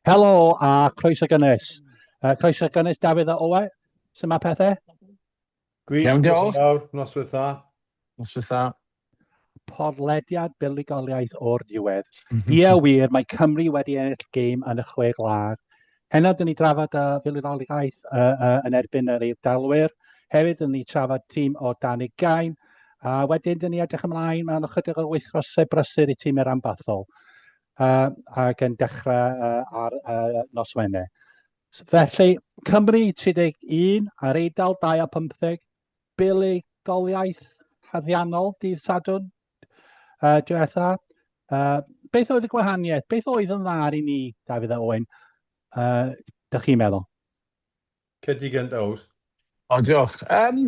Helo a croeso gynnes. Uh, croeso gynnes Dafydd a Owe. Sut mae pethau? Gwych. Iawn, diolch. Noswyth dda. Noswyth dda. Podlediad buddugoliaeth o'r diwedd. Ie wir, mae Cymru wedi ennill gêm yn y chwe gwlad. Heno dyn ni drafod y fuddugoliaeth uh, uh, yn erbyn yr Eidalwyr. Hefyd dyn ni trafod tîm o dan y gain. A wedyn dyn ni edrych ymlaen mewn ychydig o weithfrosau brysur i tîm yr ambathol. Uh, ac yn dechrau uh, ar uh, nos Wener. Felly, Cymru 31 a'r Eidal 25, buddugoliaeth haddiannol dydd Sadwrn uh, diwetha. Uh, beth oedd y gwahaniaeth? Beth oedd yn dda i ni, Dafydd a Owen? Uh, da chi'n meddwl? Cedi gynt, Ows. O, diolch. Um,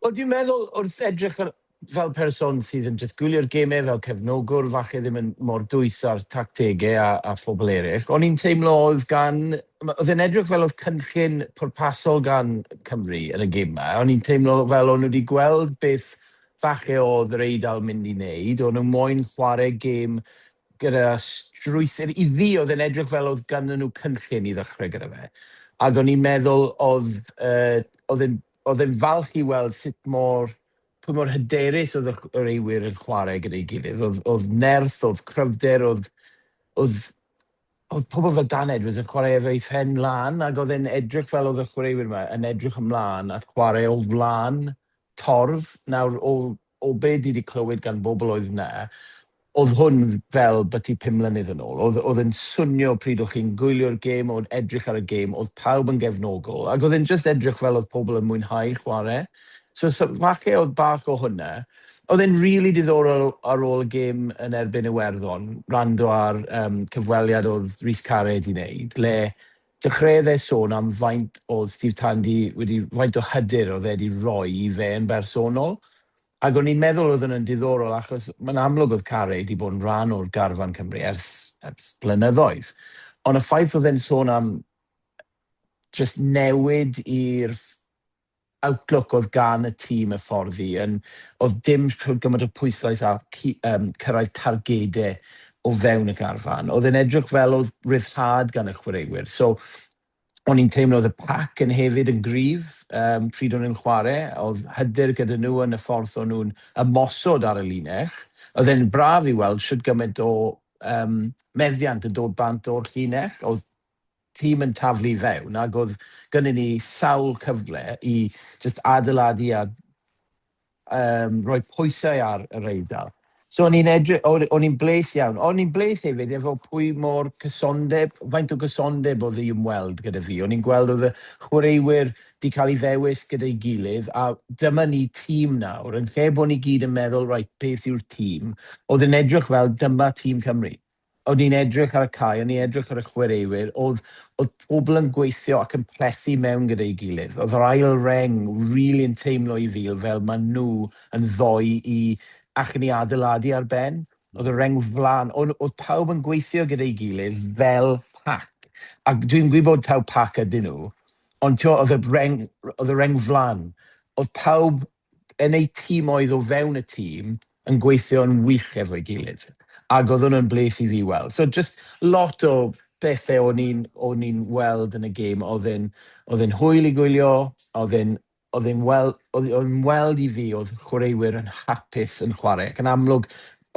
o, dwi'n meddwl wrth edrych ar fel person sydd yn jyst gwylio'r gemau, fel cefnogwr, falle ddim yn mor dwys â'r tactegau a, a phobl eraill, o'n i'n teimlo oedd gan... oedd e'n edrych fel oedd cynllun pwrpasol gan Cymru yn y gemau, o'n i'n teimlo fel o'n nhw wedi gweld beth falle oedd yr Eidal mynd i wneud, o'n nhw moyn chwarae gêm gyda strwythur, i fi oedd e'n edrych fel oedd ganddyn nhw cynllun i ddechrau gyda fe, ac o'n i'n meddwl oedd, yy, oedd e'n Oedd e'n falch i weld sut mor, pa mor hyderus oedd y chwaraewyr yn chwarae gyda'i gilydd. Oedd, oedd nerth, oedd cryfder, oedd, oedd, oedd pobl fel Dan Edwards yn chwarae efo'i phen lan ac oedd e'n edrych fel oedd y chwaraewyr yma yn edrych ymlaen at chwarae o flaen torf nawr o o be dwi di clywed gan bobl oedd na, oedd hwn fel byty pum mlynedd yn ôl, oedd oedd e'n swnio pryd oedd chi'n gwylio'r gêm, oedd edrych ar y gêm, oedd pawb yn gefnogol, ac oedd e'n jyst edrych fel oedd pobl yn mwynhau chwarae, so so falle oedd bach o hwnna. Oedd e'n rili diddorol ar ôl y gêm yn erbyn Iwerddon, wrando ar yym cyfweliad oedd Rhys Carre di neud, le Dechreuodd e sôn am faint oedd Steve Tandy wedi, faint o hyder oedd e wedi roi i fe yn bersonol, ac o'n i'n meddwl oedd hwnna'n diddorol achos mae'n amlwg oedd Carey 'di bod yn rhan o'r garfan Cymru ers, ers blynyddoedd, ond y ffaith oedd e'n sôn am jyst newid i'r outlook oedd gan y tîm y ffordd i yn oedd dim rhoi gymaint o pwyslais ar cu- yym cyrraedd targedau o fewn y garfan. Oedd e'n edrych fel oedd ryddhad gan y chwaraewyr. So o'n i'n teimlo oedd y pac yn hefyd yn gryf um, pryd o'n nhw'n chwarae. Oedd hyder gyda nhw yn y ffordd o'n nhw'n ymosod ar y linell. Oedd e'n braf i weld sut gymaint o um, meddiant yn dod bant o'r llinell. Oedd tîm yn taflu i fewn ac oedd gynnon ni sawl cyfle i jyst adeiladu a yym rhoi pwysau ar yr Eidal. So o'n i'n edry- o- o'n i'n bles iawn. O'n i'n bles hefyd efo pwy mor cysondeb, faint o gysondeb oedd i ymweld gyda fi. O'n i'n gweld oedd y chwaraewyr di cael ei ddewis gyda'i gilydd a dyma ni tîm nawr yn lle bod ni gyd yn meddwl reit beth yw'r tîm, oedd yn edrych fel dyma tîm Cymru. o'n i'n edrych ar y cae, o'n i'n edrych ar y chwaraewyr, oedd, oedd pobl yn gweithio ac yn plethu mewn gyda'i gilydd. Oedd yr ail reng rili yn teimlo i fi fel maen nhw yn ddoi i allan i adeiladu ar ben. Oedd y reng flaen, o'n, oedd pawb yn gweithio gyda'i gilydd fel pac. Ac dwi'n gwybod taw pac ydyn nhw, ond tio, oedd y reng, oedd y reng flaen. Oedd pawb yn eu timoedd o fewn y tîm yn gweithio yn wych efo'i gilydd ac oedd hwnna'n bles i fi weld. So jyst lot o bethau o'n i'n o'n i'n weld yn y gêm oedd yn oedd yn hwyl i gwylio, oedd yn oedd yn wel- oedd oedd yn weld i fi oedd chwaraewyr yn hapus yn chwarae ac yn amlwg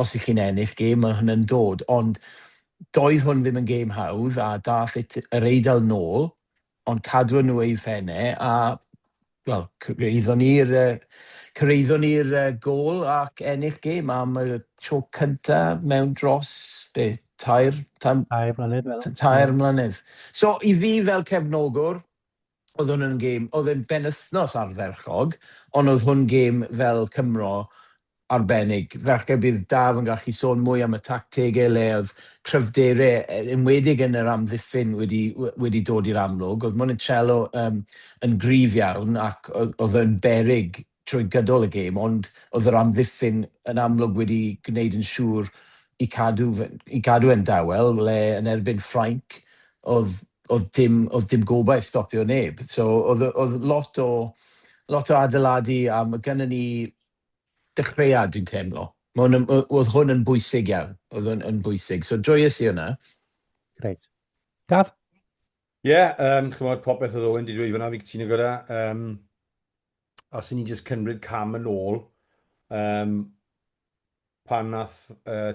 os i chi'n ennill gêm mae hwnna'n dod ond doedd hwn ddim yn gêm hawdd a daeth it- yr Eidal nôl ond cadw nhw eu phenne a wel cyraeddon ni'r yy cyraeddon ni'r yy gôl ac ennill gêm am y tro cynta mewn dros be tair tan... tair mlynedd meddwl. ...tair mlynedd. So i fi fel cefnogwr oedd hwn yn gêm oedd e'n benwythnos ardderchog ond oedd hwn gêm fel Cymro arbennig. Falle bydd Daf yn gallu sôn mwy am y tactegau le oedd cryfderau, yn enwedig yn yr amddiffyn, wedi wedi dod i'r amlwg. Oedd Monticello um, yn gryf iawn ac oedd yn berig trwy gydol y gêm, ond oedd yr amddiffyn yn amlwg wedi gwneud yn siŵr i cadw, i cadw e'n dawel, le yn erbyn Ffrainc oedd, oedd, dim, oedd dim gobaith stopio neb. So oedd, oedd lot o lot o adeiladu a mae gennym ni dechreuad dwi'n teimlo. Ma' hwn yn o- o'dd hwn yn bwysig iawn. O'dd hwn yn bwysig. So joyous i hwnna. Grêt. Daf? Ie yym ch'mod popeth o'dd Owen 'di dweud fan 'na fi'n cytuno gyda. Yym os 'yn ni'n jyst cymryd cam yn ôl yym pan nath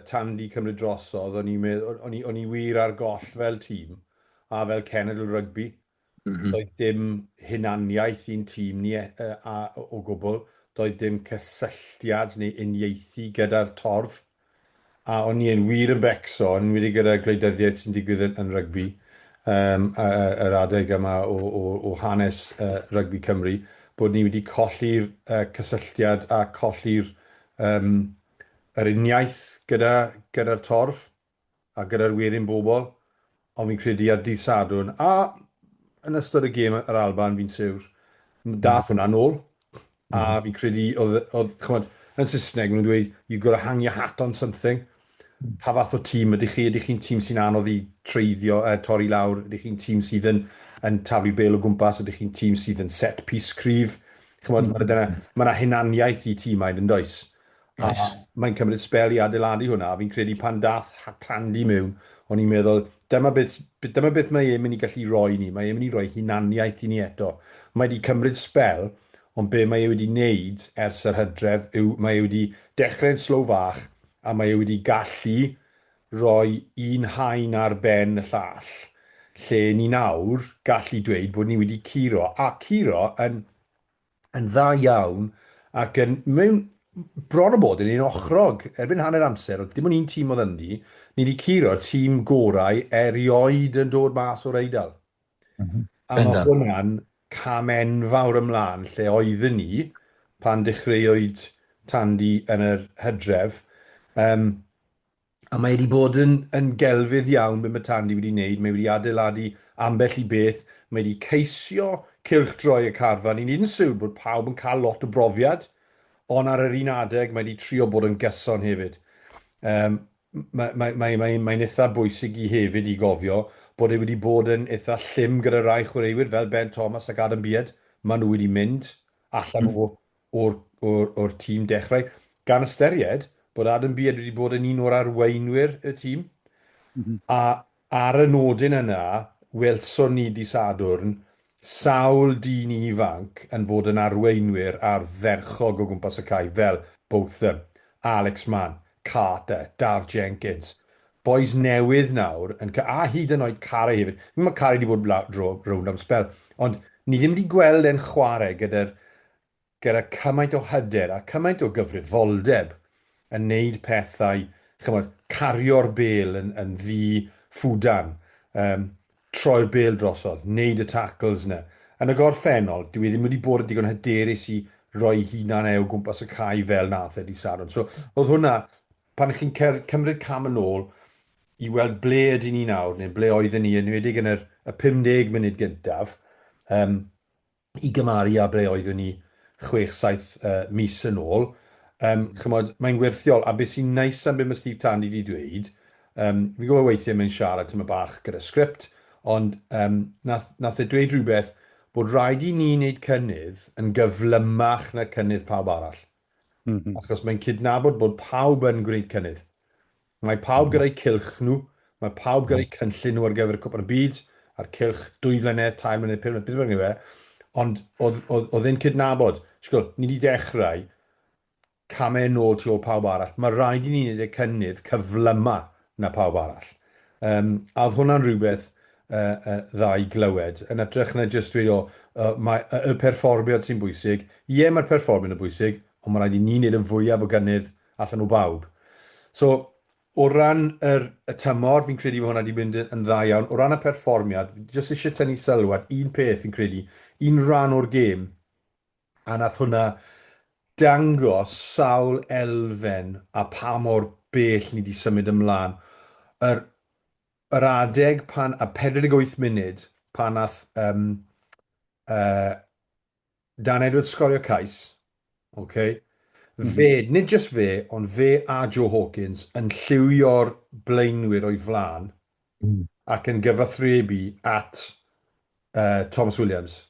Tandy cymryd drosodd o'n i'n medd- o'n i o'n i wir ar goll fel tîm a fel cenedl rygbi. Doedd dim hunaniaeth i'n tîm ni o gwbl, doedd dim cysylltiad neu uniaethu gyda'r torf a o'n i yn wir yn becso, yn enwedig gyda gwleidyddiaeth sy'n digwydd yn rygbi yym yr adeg yma o hanes rygbi Cymru, bod ni wedi colli'r cysylltiad a colli'r Yym, yr uniaith gyda, gyda'r torf, a gyda'r werin bobl, ond fi'n credu ar dydd Sadwrn, a yn ystod y gêm yr Alban, fi'n siwr, dath hwnna nôl, a fi'n credu oedd, oedd, ch'mod, yn Saesneg, ma' nhw'n dweud, you've got to hang your hat on something. Pa fath o tîm ydych chi? Ydych chi'n tîm sy'n anodd i treiddio, yy torri lawr? Ydych chi'n tîm sydd yn yn taflu bêl o gwmpas? Ydych chi'n tîm sydd yn set piece cryf? Ch'mod, ma' 'na dyna... Ma' 'na hunaniaeth i tîmau, yn does? Oes. A mae'n cymryd sbel i adeiladu hwnna, a fi'n credu pan dath Hatandy mewn, o'n i'n meddwl, dyma beth s- b- dyma beth mae e'n mynd i gallu roi i ni, mae e'n mynd i roi hunaniaeth i ni eto. Mae 'di cymryd sbel, ond be' mae e wedi neud ers yr hydref yw mae e wedi dechre'n slow fach, a mae e wedi gallu rhoi un haen ar ben y llall, lle ni'n awr gallu dweud bod ni wedi curo, a curo yn yn dda iawn ac yn mewn bron a bod yn un ochrog erbyn hanner amser, oedd dim ond un tîm oedd ynddi, ni wedi curo'r tîm gorau erioed yn dod mas o'r Eidal. Mm -hmm. A mae hwnna'n cam enfawr ymlaen lle oeddwn ni pan dechreuwyd Tandy yn yr hydref. Um, a mae wedi bod yn, yn gelfydd iawn beth mae Tandy wedi wneud. Mae wedi adeiladu ambell i beth. Mae wedi ceisio cilch droi y carfan. Ni'n un siwr bod pawb yn cael lot o brofiad, ond ar yr un adeg mae wedi trio bod yn gyson hefyd. Um, Mae'n mae, mae, mae, mae eitha bwysig i hefyd i gofio bod e wedi bod yn eitha llym gyda rai chwaraewyr fel Ben Thomas ac Adam Beard. Maen nhw wedi mynd allan mm. o'r, or, or, or tîm dechrau. Gan ystyried bod Adam Beard wedi bod yn un o'r arweinwyr y tîm. Mm -hmm. A Ar y nodyn yna, welson ni dydd Sadwrn sawl dyn ifanc yn fod yn arweinwyr ardderchog o gwmpas y cae fel Botham, Alex Mann, Carter, Daf Jenkins. Bois newydd nawr yn ca-, a hyd yn oed Carey hefyd. Fi'n gwybod mae Carey 'di bod lawr draw, rownd am sbel, ond ni ddim 'di gweld e'n chwarae gyda'r gyda cymaint o hyder a cymaint o gyfrifoldeb yn neud pethau, ch'mod, cario'r bêl yn, yn ddi ffwdan, um, troi'r bêl drosodd, neud y tackles na. Yn y gorffennol, dwi e ddim wedi bod yn digon hyderus i roi hunan e o gwmpas y cae fel nath e di Saron. So, oedd hwnna, pan chi'n cymryd cam yn ôl i weld ble ydyn ni nawr, neu ble oedden ni, yn wedi yn yr, y 50 munud gyntaf, um, i gymaru â ble oeddwn ni chwech, saith mis yn ôl. Yym, ch'mod, mae'n werthiol, a be' sy'n neis am be' ma' Steve Tandy 'di dweud, yym, fi'n gwbod weithie mae'n siarad tymed bach gyda sgript, ond yym, nath nath e dweud rhywbeth bod rhaid i ni neud cynnydd yn gyflymach na cynnydd pawb arall. M-hm. Achos mae'n cydnabod bod pawb yn gwneud cynnydd. Mae pawb gyda'u cylch nhw, mae pawb gyda'u cynllun nhw ar gyfer y Cwpan y Byd, a'r cylch, dwy flynedd, tair mlynedd, pum mlynedd, beth bynnag yw e, ond oedd, oedd, oedd e'n cydnabod, sgwr, ni wedi dechrau camau yn ôl tu ôl pawb arall, mae rhaid i ni wneud y cynnydd cyflyma na pawb arall. Um, a oedd hwnna'n rhywbeth uh, uh, dda i glywed, yn atrych na jyst dweud, o, uh, mae y, y perfformiad sy'n bwysig, ie, mae'r perfformiad yn bwysig, ond mae rhaid i ni wneud yn fwyaf o gynnydd allan o bawb. So, o ran yr, y tymor, fi'n credu bod hwnna wedi mynd yn dda iawn. O ran y perfformiad, jyst eisiau tynnu sylw at un peth fi'n credu, un rhan o'r gêm, a nath hwnna dangos sawl elfen a pa mor bell ni wedi symud ymlaen. Yr, yr adeg pan, a 48 munud, pan nath um, uh, Dan Edwards sgorio cais, ok. Fe, nid jyst fe, ond fe a Joe Hawkins yn lliwio'r blaenwyr o'i flaen ac yn gyfathrebu at uh, Thomas Williams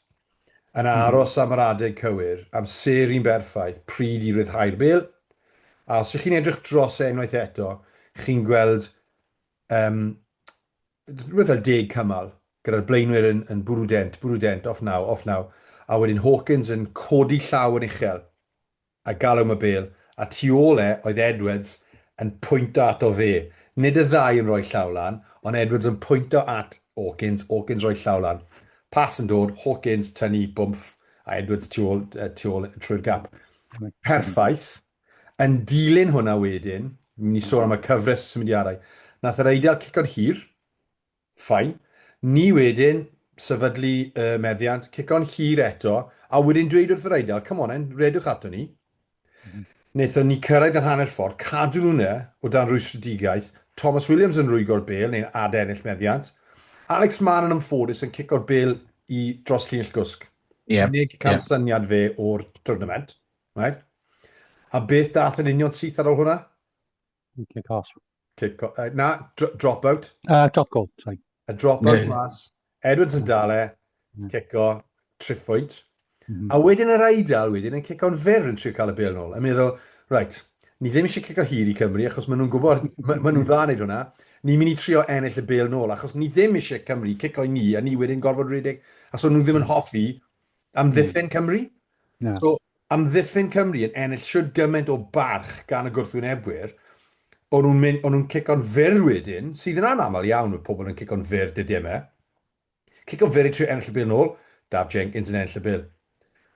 yn hmm. aros am yr adeg cywir, amseru'n berffaith, pryd i ryddhau'r bel. A os ych chi'n edrych dros e unwaith eto, chi'n gweld Yym, rhywbeth fel deg cymal, gyda'r blaenwyr yn, yn bwrw dent, bwrw dent, off naw, off naw, a wedyn Hawkins yn codi llaw yn uchel, a galw am y bêl, a tu ôl e oedd Edwards yn pwynto ato fe. Nid y ddau yn rhoi llaw lan, ond Edwards yn pwynto at Hawkins, Hawkins rhoi llaw lan. Pas yn dod, Hawkins tynnu bwmff, a Edwards tu ôl, tu ôl trwy'r gap. Perffaith, Yn dilyn hwnna wedyn, ni'n mynd i sôn am y cyfres o symudiadau. Nath yr Eidal cico'n hir, fine. Ni wedyn, sefydlu y meddiant, cico'n hir eto, a wedyn dweud wrth yr Eidal, come on then, redwch ato ni. Mhm. Naethon ni cyrraedd yr hanner ffordd, cadw nhw yna o dan rwystredigaeth, Thomas Williams yn rwygo'r bel neu'n adennill meddiant, Alex Mann yn ymffodus yn cico'r bel i dros llinell gwsg. Ie. Unig cansyniad fe o'r twrnament. Right. A beth dath yn union syth ar ôl hwnna? Kick off. Kick off. Uh, na, dr drop out. Uh, drop goal, sorry. A drop out yeah. mas. Edwards yn dale, mm. kick off, triffwyd. Mm -hmm. A wedyn yr aidal wedyn yn cico'n fer yn trio cael y bel nôl. Yn meddwl, right, ni ddim eisiau cico hir i Cymru achos maen nhw'n gwybod, maen nhw'n dda wneud hwnna. Ni'n mynd i trio ennill y bel nôl achos ni ddim eisiau Cymru cico i ni a ni wedyn gorfod rhedeg. A so nhw ddim yn hoffi Amddiffyn Cymru? Na. So, amddiffyn Cymru yn ennill siwr gymaint o barch gan y gwrthwynebwyr, o'n nhw'n mynd, o'n nhw'n cico'n fyr wedyn, sydd yn anaml iawn, mae pobl yn cico'n fyr dydy yma. E. Cico'n fyr i trio ennill y bil nôl, Daf Jenkins yn ennill y bil.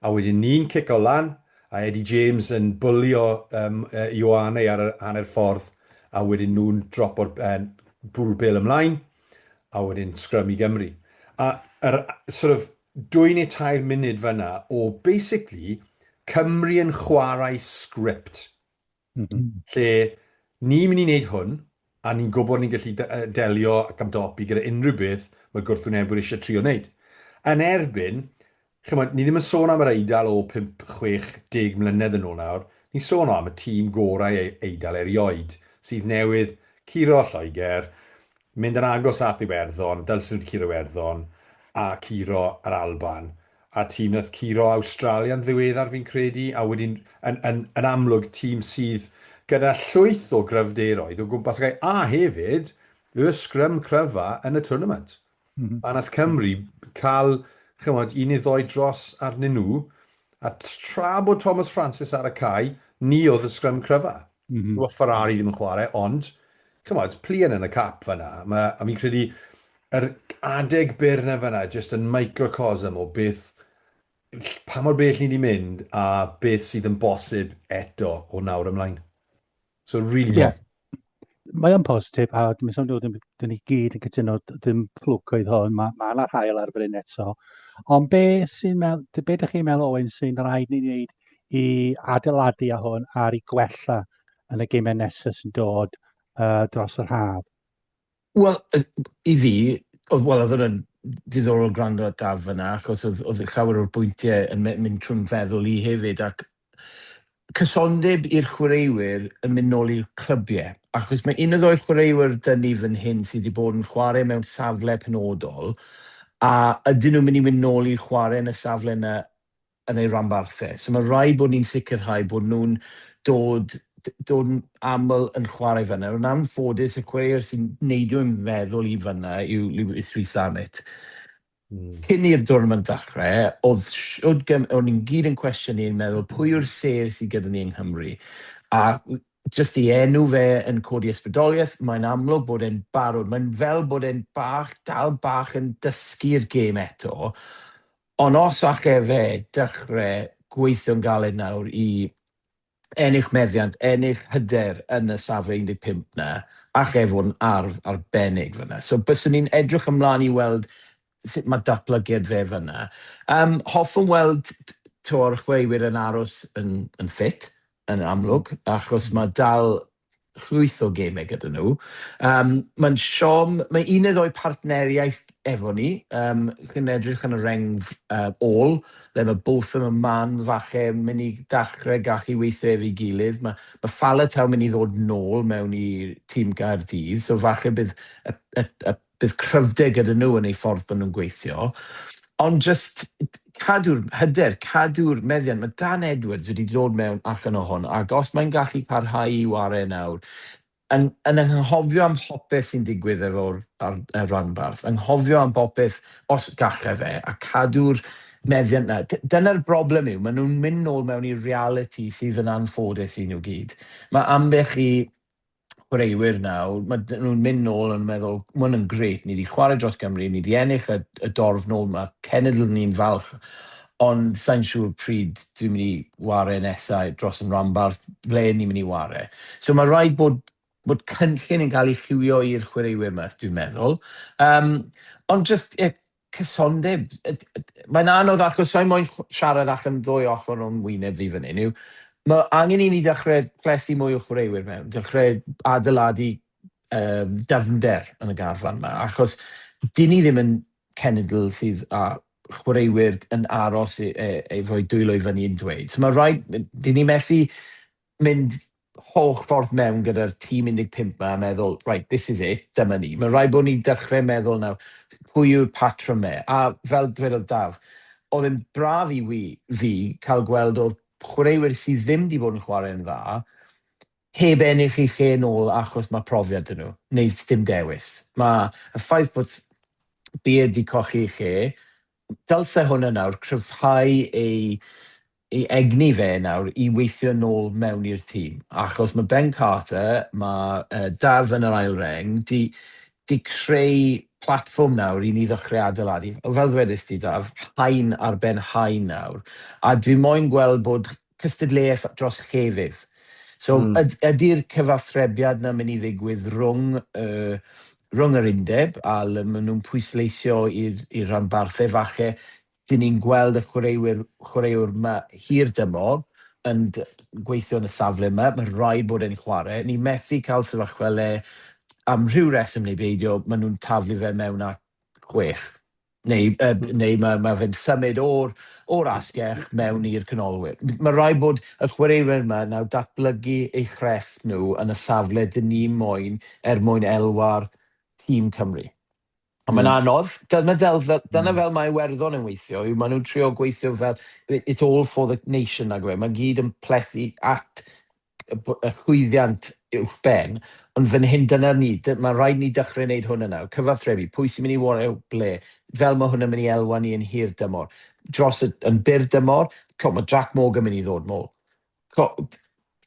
A wedyn ni'n cico lan, a Eddie James yn bwlio um, uh, Ioane ar y hanner ffordd, a wedyn nhw'n dropo'r uh, bwrw bil ymlaen, a wedyn sgrym i Gymru. A er, sort of, dwy neu tair munud fanna o basically Cymru yn chwarae sgript. Mm -hmm. Lle ni'n mynd i wneud hwn, a ni'n gwybod ni'n gallu delio ac amdopi gyda unrhyw beth mae gwrthwynebwyr eisiau trio wneud. Yn erbyn, chymod, ni ddim yn sôn am yr eidl o 5-60 mlynedd yn ôl nawr, ni'n sôn am y tîm gorau e-, eidl erioed sydd newydd curo Lloegr, Mynd yn agos at Iwerddon, dylswn curo Iwerddon a curo yr Alban, a tîm nath curo Awstralia'n ddiweddar fi'n credu, a wedyn yn yn yn amlwg tîm sydd gyda llwyth o gryfderoedd o gwmpas y cae, a hefyd y sgrym cryfa yn y twrnament. A nath Cymru ca'l, ch'mod, un neu ddou dros arnyn nhw, a tra bod Thomas Francis ar y cae, ni o'dd y sgrym cryfa. Mm -hmm. Mae Ferrari ddim yn chwarae, ond, chymod, plien yn y cap fyna. Mae, a fi'n credu, yr adeg byr na fyna, jyst yn microcosm o beth, pa mor bell ni wedi mynd a beth sydd yn bosib eto o nawr ymlaen. So, really yeah. Mae o'n positif, a dwi'n sôn dod yn ni gyd yn cytuno, dim fflwc oedd hwn, mae yna ma hael ar bryn eto. Ond be sy'n meddwl, be ydych chi'n meddwl, Owen, sy'n rhaid ni wneud i adeiladu a hwn ar i gwella yn y gymau nesaf sy'n dod uh, dros yr haf? Wel, i fi, oedd, wel, oedd hwnna'n diddorol gwrando at Daf fyna, achos oedd, oedd llawer o'r bwyntiau yn mynd trwy'n feddwl i hefyd, ac cysondeb i'r chwaraewyr yn mynd nôl i'r clybiau, achos mae un o ddoi'r chwaraewyr dyn ni fan hyn sydd wedi bod yn chwarae mewn safle penodol, a ydyn nhw'n mynd i mynd nôl i chwarae yn y safle yna yn eu rhanbarth e. So mae rhaid bod ni'n sicrhau bod nhw'n dod dod yn aml yn chwarae fan'na. Yn anffodus, y chwaraewr sy'n neidio i'n meddwl i fan'na yw Lewis Rees-Zammit. Mm. Cyn i'r dwrnament ddechrau, oedd siwd gym... o'n ni'n gyd yn cwestiynu yn meddwl pwy yw'r sêr sydd gyda ni yng Nghymru. A jyst i enw fe yn codi ysbrydoliaeth, mae'n amlwg bod e'n barod. Mae'n fel bod e'n bach, dal bach yn dysgu'r gêm eto. Ond os allai fe dechrau gweithio'n galed nawr i ennill meddiant, ennill hyder yn y safle 15 'na, allai e fod yn arf arbennig fan'na. So byswn i'n edrych ymlaen i weld sut mae datblygiad fe fan'na. Yym, hoffwn weld t- t'mo' y chwaraewyr yn aros yn yn ffit, yn amlwg, achos mae dal llwyth o gemau gyda nhw. Um, Mae'n siom, mae un neu ddwy partneriaeth efo ni, um, chi'n edrych yn y rengf uh, ôl, le mae Botham a Man falle mynd i dachrau gallu weithio efo'i gilydd. Mae, mae Falataw mynd i ddod nôl mewn i tîm Gaerdydd, so falle bydd y, y, y bydd cryfder gyda nhw yn eu ffordd bod nhw'n gweithio, ond jyst cadw'r hyder, cadw'r meddiant. Mae Dan Edwards wedi dod mewn allan o hwn, ac os mae'n gallu parhau i ware nawr, yn, yn anghofio am hopeth sy'n digwydd efo'r ar, ar ranbarth, anghofio am bopeth os gallai fe, a cadw'r meddiant na. Dyna'r broblem yw, maen nhw'n mynd nôl mewn i'r reality sydd yn anffodus i nhw gyd. Mae ambell i chwaraewyr nawr, mae dyn nhw'n mynd nôl yn meddwl, mae hwn yn gret, ni wedi chwarae dros Gymru, ni wedi ennill y, y dorf nôl, mae cenedl ni'n falch, ond sa'n siŵr pryd dwi'n mynd i ware nesau dros yn rhanbarth, ble ni'n mynd i ware. So mae rhaid bod, bod cynllun yn cael ei lliwio i'r chwaraewyr yma, dwi'n meddwl. Um, ond just, yeah, Cysondeb. Y- y- y- Mae'n anodd achos sa'n moyn ch- siarad allan ddwy ochr o'n wyneb fi fan hyn yw, mae angen i ni dechrau plethu mwy o chwaraewyr mewn, dechrau adeiladu um, dyfnder yn y garfan yma, achos dyn ni ddim yn cenedl sydd â chwaraewyr yn aros i, e, efo'i dwylo i fyny yn dweud. So mae rhaid, dyn ni methu mynd holl ffordd mewn gyda'r tîm 15 ma a meddwl, right, this is it, dyma ni. Mae'n rhaid bod ni'n dechrau meddwl nawr, pwy yw'r patrwm 'ma? A fel dwedodd Daf, oedd e'n braf i wi, fi, cael gweld oedd chwaraewyr sydd ddim wedi bod yn chwarae'n dda, heb ennill eu lle nôl achos mae profiad 'da nhw, neu sdim dewis. Mae y ffaith bod Beard wedi colli ei lle, dylse hwnna nawr cryfhau ei ei egni fe nawr i weithio nôl mewn i'r tîm, achos ma' Ben Carter, ma' yy Daf yn yr ail reng, 'di 'di creu platfform nawr i ni ddechre adeiladu. Fel ddwedist ti Daf, haen ar ben haen nawr, a dwi moyn gweld bod cystadleuaeth dros llefydd. So Mm. yd- ydi'r cyfathrebiad 'na myn' i ddigwydd rhwng y rhwng yr undeb a le ma' nhw'n pwysleisio i'r i'r rhanbarthau falle 'dyn ni'n gweld y chwaraewyr, chwaraewr 'ma hir dymor yn gweithio yn y safle 'ma, ma' raid bod e'n chware'. Ni methu cael sefyllfa le, am rhyw reswm neu beidio, ma' nhw'n taflu fe mewn at chwech, neu yy neu ma' ma' fe'n symud o'r o'r asgell mewn i'r canolwyr. Ma' raid bod y chwaraewyr 'ma nawr datblygu eu chrefft nhw yn y safle 'dyn ni moyn er mwyn elwa'r tîm Cymru. Ond mae'n anodd. Dyna fel, dyna fel mae Iwerddon yn weithio, yw maen nhw'n trio gweithio fel, it's all for the nation nag yw e. Mae'n gyd yn plethu at y b- y llwyddiant uwch ben, ond fan hyn dyna ni, dy- mae'n rhaid ni dechrau wneud hwn yn nawr. Cyfathrebu, pwy sy'n mynd i wario ble, fel mae hwn yn mynd i elwa ni yn hir dymor. Dros y, yn byr dymor, co, mae Jack Morgan mynd i ddod nôl.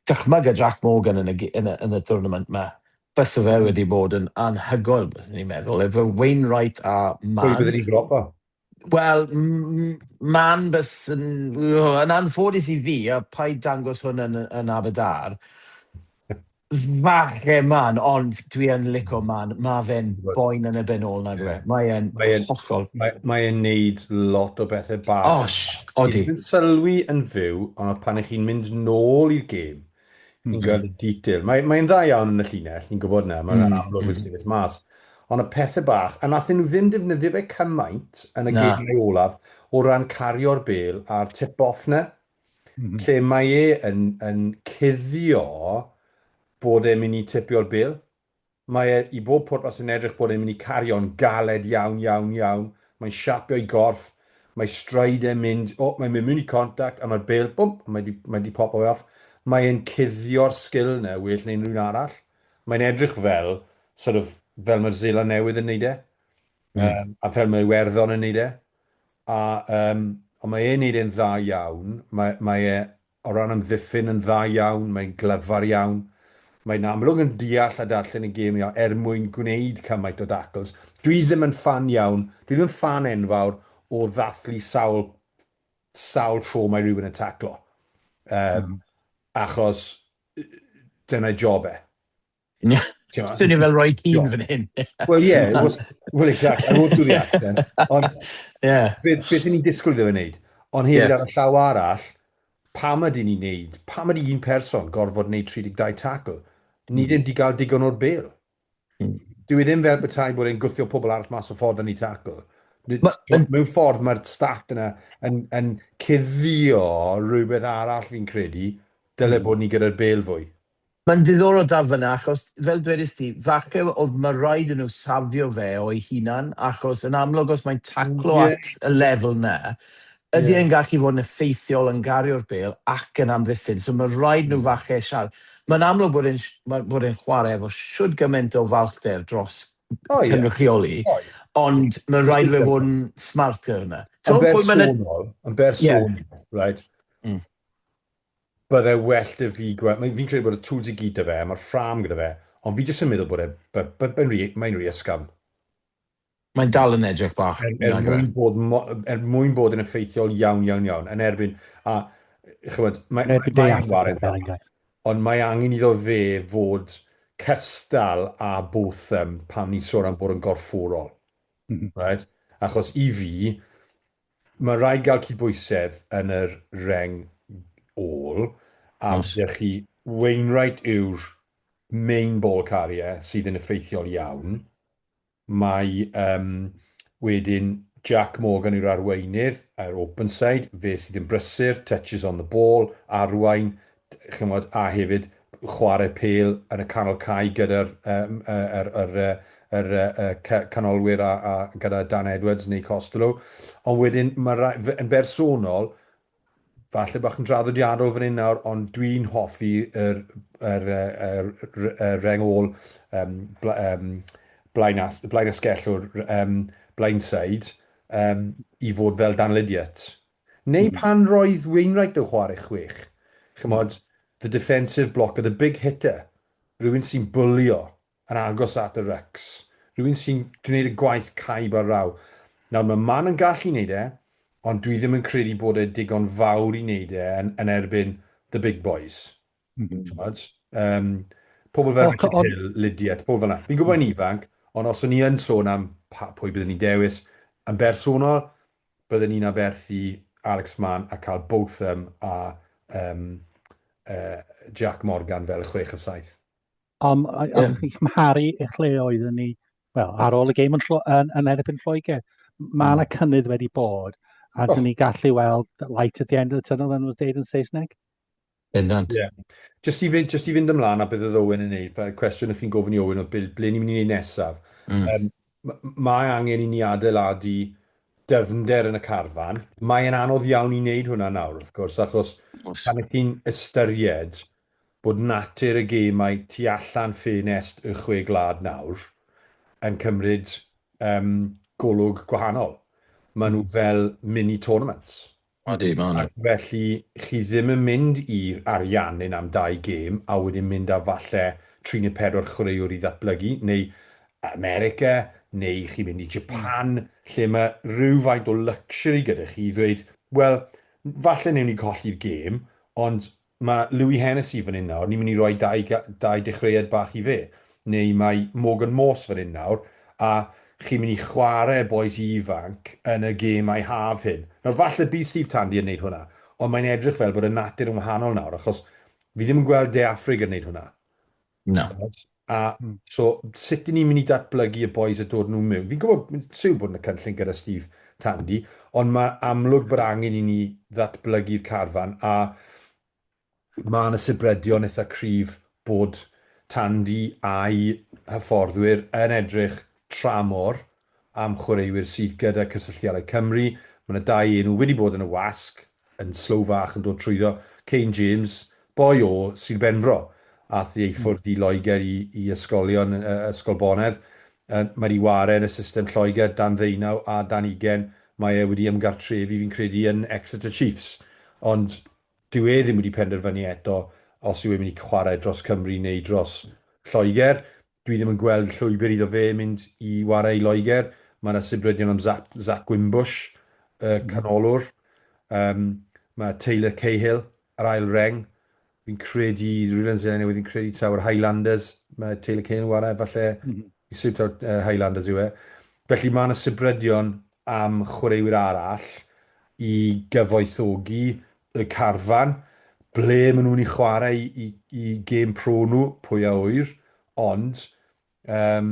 dychmyga Jac Morgan yn y gi- yn y yn y tournament 'ma. Bysa fe Hmm. wedi bod yn anhygoel, byddwn i'n meddwl, efo Wainwright a Pwy Mann. bydden ni'n dropo? Wel, m- m- Mann bys yn... Yn anffodus i fi, a paid dangos hwn yn yn Aberdâr, Falle man, ond dwi yn lico hmm. man. Mae fe'n boen yn y ben ôl na dwe. Mae e'n hollol. Mae, mae e'n neud lot o bethau bach. Osh, odi. Yn sylwi yn fyw, ond pan ych chi'n mynd nôl i'r gêm, ni'n mhm. gweld y detail. Mae'n mae dda iawn yn y llinell, ni'n gwybod na, mae'n mm. amlwg yn mhm. sefyll mas. Ond y pethau bach, a nathyn nhw ddim defnyddio fe cymaint yn y gêm olaf o ran cario'r bel a'r tip-off na. lle mae e yn yn cuddio bod e'n mynd i tipio'r bil. Mae e i bob pwrpas yn edrych bod e'n mynd i cario'n galed iawn, iawn, iawn. Mae'n siapio'i gorff, mae stride e'n mynd, o, mae'n mynd mewn i contact a mae'r bil, bwmp, mae 'di mae 'di popo fe off. Mae e'n cuddio'r sgil 'na well na unrhyw un arall. Mae'n edrych fel, sort of, fel mae'r Seland Newydd yn neud e. Mm. Um, a ffermio Iwerddon yn neud e. A, um, ond mae e'n neud e'n dda iawn. Mae, mae e o ran amddiffyn yn dda iawn, mae'n glyfar iawn. Mae'n amlwg yn deall a darllen y gêm iawn er mwyn gwneud cymaint o dacls. Dwi ddim yn fan iawn, dwi ddim yn fan enfawr o ddathlu sawl, sawl tro mae rhywun yn taclo. Um, mm. Achos dyna job e. Swnio fel Roy Keane fan hyn. Wel ie, well exact, I won't do the accent. Ond beth beth ni'n disgwyl iddo fe wneud? Ond hefyd ar y llaw arall, pam ydyn ni'n neud, pam ydy un person gorfod wneud 32 tackle? Ni ddim wedi cael digon o'r bel. Hmm. Dwi e ddim fel bethau bod e'n gwthio pobl arall mas o ffordd yn ei tackle. Mewn ffordd mae'r stat yna yn, yn cuddio rhywbeth arall fi'n credu, dyle hmm. bod ni gyda'r bel fwy. Mae'n ddiddorol dal fyna achos, fel dwedist ti, falle oedd ma raid i nhw safio fe o'i hunan achos yn amlwg os mae'n taclo Ie. at y lefel 'na, ydy Ie. e'n gallu fod yn effeithiol yn gario'r bêl ac yn amddiffyn. So ma raid nhw falle siar-. Mae'n amlwg bod e'n mae bod e'n chwarae efo shwd gymaint o falchder dros O ie. cynrychioli, O ie. ond ma raid i fe fod yn smarter yna. Yn bersonol, yn bersonol, reit? bydde well 'da fi gweld, fi'n credu bod y tools i gyd 'da fe, mae'r ffrâm gyda fe, ond fi jyst yn meddwl bod e, mae'n rhy, mae'n rhy ysgafn. Mae'n dal yn edrych bach, er, er nag yw e? mwyn bod, mo- er mwyn bod yn effeithiol iawn, iawn, iawn, yn erbyn, a, chymod, mae, Yn erbyn mae Dei e'n Affrica, waren fel dda, enghraifft. ond mae angen iddo fe fod cystal â Botham pan ni'n sôn am bod yn gorfforol. Right? Achos i fi, Mae'n rhaid cael cydbwysedd yn yr reng ôl a os ydych chi, Wainwright yw'r main ball carrier sydd yn effeithiol iawn. Mae yym wedyn Jac Morgan yw'r arweinydd, yr open side, fe sydd yn brysur, touches on the ball, arwain, chimod, a hefyd chwarae pêl yn y canol cae gyda'r um, er, er, er, er, canolwyr a, a gyda Dan Edwards neu Costello. Ond wedyn, mae yn bersonol, falle bach yn draddodiadol fan hyn nawr, ond dwi'n hoffi yr, yr, yr, yr, yr reng ôl um, bla, um, blaen, as, blaen asgellwr, um, blaen said, um, i fod fel Dan Lydiot. Neu pan roedd Wainwright yn chwarae chwech, ch'mod, the defensive blocker, the big hitter, rhywun sy'n bwlio yn agos at y rycs, rhywun sy'n gwneud y gwaith caib ar raw. Nawr, mae Mann yn gallu wneud e, ond dwi ddim yn credu bod e digon fawr i wneud e yn erbyn the big boys. T'mod? Yym, pobl fel Richard Hill, Lydia, t'mod, pobl fel 'na. Fi'n gwybod bod e'n ifanc, ond os o'n i yn sôn am pa- pwy byddwn i'n dewis, yn bersonol, byddwn i'n aberthu Alex Mann a cael Botham a yym yy Jac Morgan fel y chwech a saith. Ond a- Ie. oeddech chi'n cymharu eich lle oeddwn ni, wel, ar ôl y gêm yn Llw- yn yn erbyn Lloegr. M- Ma' 'na cynnydd wedi bod, a 'dyn ni gallu weld light at the end of the tunnel fel ma' nhw'n deud yn Saesneg. Bendant. Ie. Jyst i fynd, jyst i fynd ymlaen a beth oedd Owen yn neud, pa- cwestiwn o'ch chi'n gofyn i Owen oedd ble, ble ni'n mynd i neud nesaf? Mm. Yym, m- mae angen i ni adeiladu dyfnder yn y carfan. Mae e'n anodd iawn i wneud hwnna nawr, wrth gwrs, achos Os. pan ych chi'n ystyried bod natur y gemau tu allan ffenest y chwe gwlad nawr yn cymryd um, golwg gwahanol. Maen nhw fel mini tournaments. Yndi, mae hwnna. Ac felly, chi ddim yn mynd i ariannu'n am dau gêm a wedyn mynd â falle tri neu pedwar chwaraewr i ddatblygu, neu America, neu chi'n mynd i Japan, lle mae rhywfaint o luxury gyda chi i ddweud, wel, falle newn ni colli'r gêm, ond Mae Louis Hennessy fan hyn nawr, ni'n mynd i roi dau ga- dau dechreuad bach i fe. Neu mae Morgan Morse fan hyn nawr, a chi'n mynd i chwarae bois ifanc yn y gêm a'i haf hyn. Nawr, falle bydd Steve Tandy yn wneud hwnna, ond mae'n edrych fel bod y natur yn wahanol nawr, achos fi ddim yn gweld De Affrig yn wneud hwnna. Na. A so, sut ni'n mynd i datblygu y boys a dod nhw mewn? Fi'n gwybod, mae'n siw bod yn y cynllun gyda Steve Tandy, ond mae amlwg bod angen i ni ddatblygu'r carfan, a mae yna sibredion eitha cryf bod Tandy a'i hyfforddwyr yn edrych tramor Am chwaraewyr sydd gyda Cysylltiadau Cymru, mae yna dau enw wedi bod yn y wasg yn Slough Fach yn dod trwyddo, Kane James, boi o Sir Benfro, aeth i ei ffwrdd i Loegr i i ysgolion yy Ysgol Bonedd. Yy mae 'di ware yn y system Lloegr dan ddeunaw a dan ugain. Mae e wedi ymgartrefu fi'n credu yn Exeter Chiefs. Ond dyw e ddim wedi penderfynu eto os yw e'n mynd i chwarae dros Cymru neu dros Lloegr. Dwi ddim yn gweld llwybr iddo fe mynd i ware i Loegr. Mae yna sibrydion am Zach, Zach Wimbush, y canolwr. Um, mae Taylor Cahill, yr ail reng. Fi'n credu, Rwylan Zelen newydd, fi'n credu taw'r Highlanders. Mae Taylor Cahill yn ware, falle, mm -hmm. i Sir uh, Highlanders yw e. Felly mae yna sibrydion am chwaraewyr arall i gyfoethogi y carfan, ble maen nhw'n i chwarae i, i gêm pro nhw, pwy a ŵyr, ond um,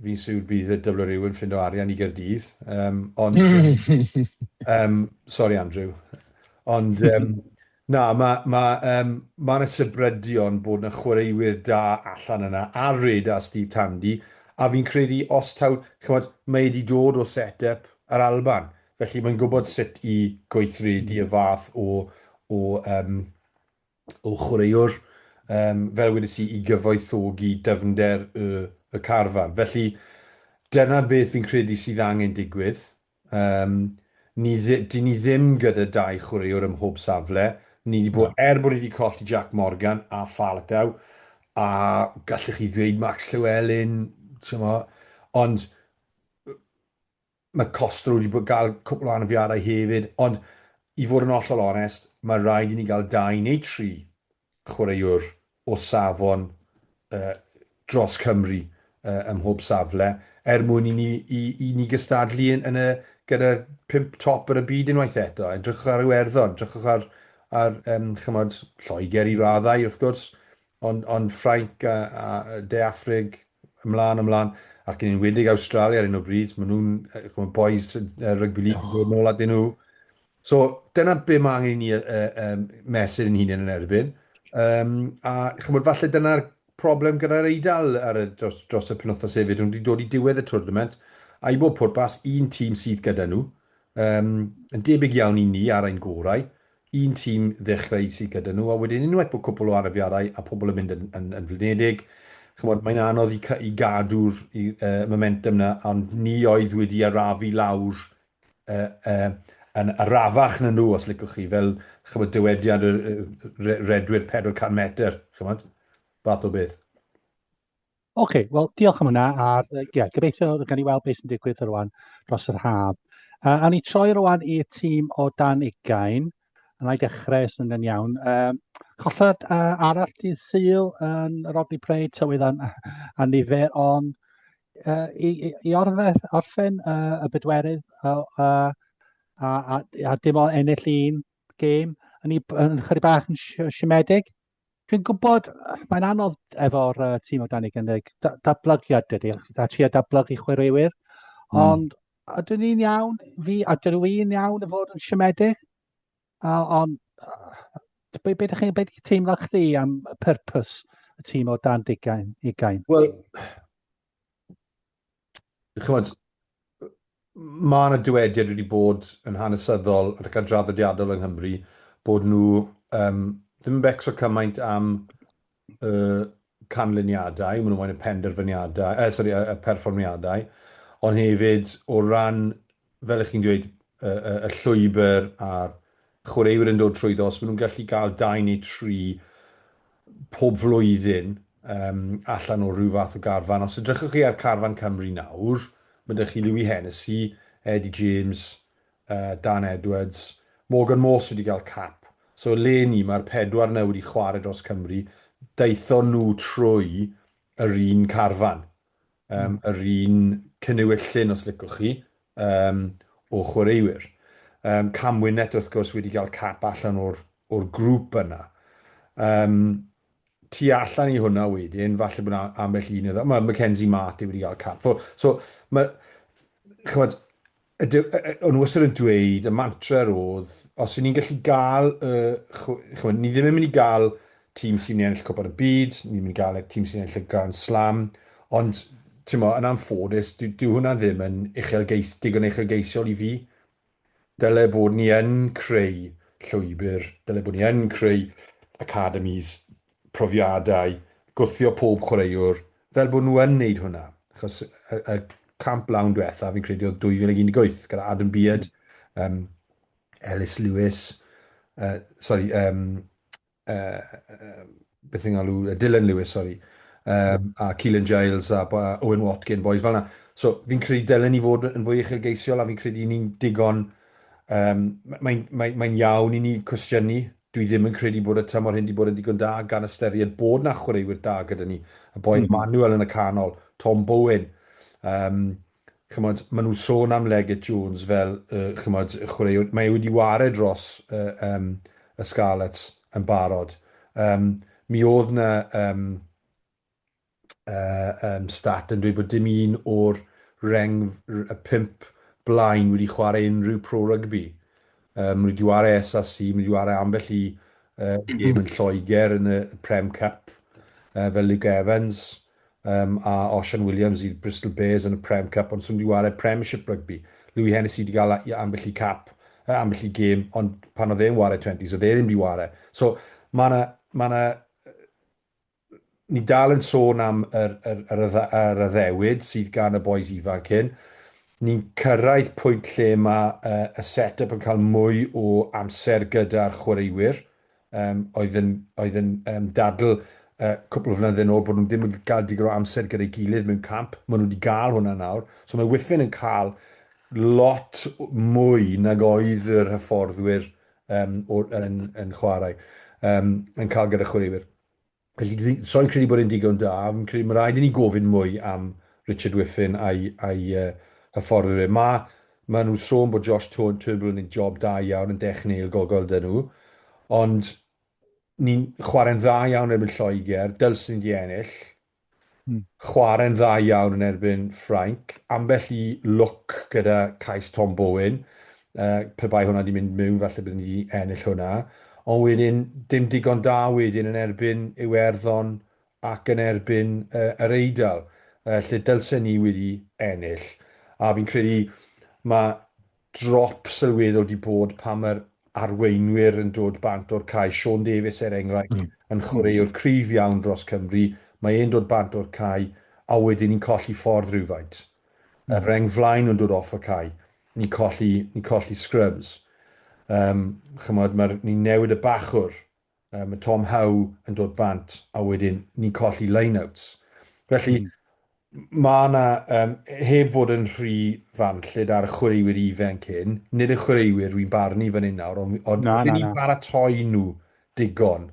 fi'n siwr bydd y dybl rhyw yn ffindo arian i Gerdydd, um, ond... um, sorry Andrew, ond... Um, Na, ma, ma, um, ma na sybrydion bod na chwaraewyr da allan yna, ar Red a Steve Tandy, a fi'n credu os taw, ch'mod, mae e 'di dod o set-up yr Alban, felly mae'n gwbod sut i gweithredu y fath o o um, o chwaraewr, um, fel wedes i, i gyfoethogi dyfnder y y carfan. Felly, dyna beth fi'n credu sydd angen digwydd, Yym, ni ddi- dyn ni ddim gyda dau chwaraewr ym mhob safle. Ni 'di bod... er bod ni 'di colli Jac Morgan a Faletau, a gallech chi ddweud Max Llewelyn, timod, ond mae Costa wedi bod gael cwpl o anafiadau hefyd, ond i fod yn hollol onest, mae rhaid i ni gael dau neu tri chwaraewr o safon yy dros Cymru yy ym mhob safle, er mwyn i ni i i ni gystadlu yn yn y gyda'r pump top yn y byd unwaith eto. Edrychwch ar Iwerddon, edrychwch ar ar yym ch'mod Lloegr i raddau wrth gwrs, ond ond Ffrainc a a De Affrig ymlaen ymlaen ac yn enwedig Awstralia ar hyn o bryd, ma' nhw'n yy ch'mod bois yy rygbi league yn dod nôl atyn nhw. So, dyna be mae angen i ni uh, um, mesur yn hunain yn erbyn. Um, a chymod, falle dyna'r problem gyda'r eidl ar y, dros, dros y penwthnos hefyd. Nhw wedi dod i diwedd y twrnament, a i bob pwrpas, un tîm sydd gyda nhw. Um, yn debyg iawn i ni ar ein gorau, un tîm ddechrau sydd gyda nhw, a wedyn unwaith bod cwpl o anafiadau a pobl yn mynd yn, yn, yn flinedig, chymod, mae'n anodd i, i gadw'r uh, momentum na, ond ni oedd wedi arafu lawr yn arafach na nhw, os licwch chi, fel, ch'mod, dywediad y redwyr 400 metr, ch'mod, fath o beth. OK, wel, diolch am hwnna, a ie, yeah, gobeithio gan i weld beth sy'n digwydd rwan dros yr haf. Uh, a ni troi rwan i'r tîm o dan ugain, Yna i dechrau, sy'n yn iawn. Um, collad uh, arall dydd syl yn Rodney Prey, tywydd a, a nifer, ond uh, i, i, i orfedd, orffen uh, y bedwerydd a, a, a, a, a dim ond ennill un gêm, yn, yn chyri bach yn siomedig. Dwi'n gwybod, mae'n anodd efo'r uh, tîm o Dani Gynnig, datblygiad dydy, a tri a datblygu chwaraewyr, mm. ond ydyn ni'n iawn, fi, ydyn nhw'n iawn y fod yn siomedig, ond be, be, chi'n be di teimlo chdi am y purpose y tîm o dan digain, ugain? Wel, chimod, mae yna dywediad wedi bod yn hanesyddol ac yn draddodiadol yng Nghymru bod nhw um, ddim yn becso cymaint am y canlyniadau, maen nhw'n moyn y penderfyniadau, eh, sorry, y, y perfformiadau, ond hefyd o ran fel ych chi'n dweud, y, y, y llwybr a'r chwaraewyr yn dod trwyddo, os maen nhw'n gallu cael dau neu tri pob flwyddyn um, allan o rhyw fath o garfan. Os ydrychwch chi ar carfan Cymru nawr, mae ydych chi Louis Hennessy, Eddie James, uh, Dan Edwards, Morgan Morse wedi cael cap. So le ni, mae'r pedwar na wedi chwarae dros Cymru, daethon nhw trwy yr un carfan. um, yr un cyniwyllun os licwch chi, um, o chwaraewyr. Um, Camwynet wrth gwrs wedi cael cap allan o'r, or grŵp yna. Um, tu allan i hwnna wedyn, falle bod ambell un iddo. Mae Mackenzie Mart wedi cael cap. So, so mae, chymod, O'n nhw wastad yn dweud, y mantra oedd, os y'n ni'n gallu gael, chymod, ni ddim yn mynd i gael tîm sy'n ennill cwpan y byd, ni ddim yn gael tîm sy'n ennill y Grand Slam, ond, ti'n mo, yn anffodus, dyw hwnna ddim yn uchelgeis, digon uchelgeisiol i fi. Dyle bod ni yn creu llwybr, dyle bod ni yn creu academis, profiadau, gwthio pob chwaraewr fel bod nhw yn wneud hwnna, achos y, y camp lawn diwetha, fi'n credu oedd 2018, gyda Adam Beard, um, Ellis Lewis, uh, sorry, um, uh, uh, beth yng Nghalw, uh, Dylan Lewis, sorry, um, a Keelan Giles a, a Owen Watkin, boys fel yna. So, fi'n credu dylen ni fod yn fwy uchelgeisiol a fi'n credu ni'n digon, um, mae'n mae, mae iawn i ni cwestiynu Dwi ddim yn credu bod y tymor hyn 'di bod yn ddigon da gan ystyried bod 'na chwaraewyr da gyda ni. Y boi Manuel yn y canol, Tom Bowen. Yym, ch'mod, ma' nhw'n sôn am Leggett Jones fel yy ch'mod, chwaraewr, mae e wedi ware dros y yym y Scarlets yn barod. Yym, mi o'dd 'na yym um, stat yn dweud bod dim un o'r reng y pimp blaen wedi chwarae unrhyw pro rygbi. Um, wedi chwarae SRC, wedi chwarae ambell i uh, gêm yn Lloegr yn y Prem Cup, uh, fel Luke Evans um, a Osian Williams i Bristol Bears yn y Prem Cup, ond sy'n wedi chwarae Premiership rygbi. Louis Hennessy wedi cael ambell i cap, uh, ambell i gêm, ond pan oedd e'n chwarae 20s, oedd e ddim wedi chwarae. So, mae yna ma Ni'n dal yn sôn am yr addewid sydd gan y bois ifanc hyn. Ni'n cyrraedd pwynt lle mae y set-yp yn cael mwy o amser gyda'r chwaraewyr oedd yn dadl cwpl o flynydde nôl bod nhw ddim yn cael digon o amser gyda'i gilydd mewn camp. Maen nhw wedi cael hwnna nawr. So mae Whiffen yn cael lot mwy nag oedd yr hyfforddwyr yn chwarae yn cael gyda chwaraewyr. Felly, dwi, so yn credu bod e'n digon da. Fi'n credu mae rhaid i ni gofyn mwy am Richard Whiffen a'i, a'i uh, hyfforddwyr e. Mae, mae nhw'n sôn bod Josh Turnbull yn gwneud job da iawn yn dech neil gogol dyn nhw, ond ni'n chwarae'n dda iawn erbyn Lloegr, dylsyn ni wedi ennill, Chwarae'n dda iawn yn erbyn Ffrainc. Ambell i lwc gyda cais Tom Bowen. Pe bai hwnna 'di mynd miwn falle bydden ni 'di ennill hwnna. Ond wedyn dim digon da wedyn yn erbyn Iwerddon ac yn erbyn Yr Eidal lle dylsen ni wedi ennill. A fi'n credu ma' drop sylweddol 'di bod pan mae'r arweinwyr yn dod bant o'r cae. Sean Davies, er enghraifft, yn chwaraewr cryf iawn dros Cymru. Mae e'n dod bant o'r cae a wedyn ni'n colli ffordd rhywfaint. Y rheng flaen nhw'n dod off y cae. Ni'n colli, ni'n colli scrums. Yym, chimod, mae'r... ni'n newid y bachwr yy ma' Tom Howe yn dod bant a wedyn ni'n colli lineouts. Felly mm. mae yna, um, heb fod yn rhy fan lle da'r y chwaraewyr ifanc hyn, nid y chwaraewyr rwy'n barnu fan hyn nawr, ond od, na, na, na. baratoi nhw digon.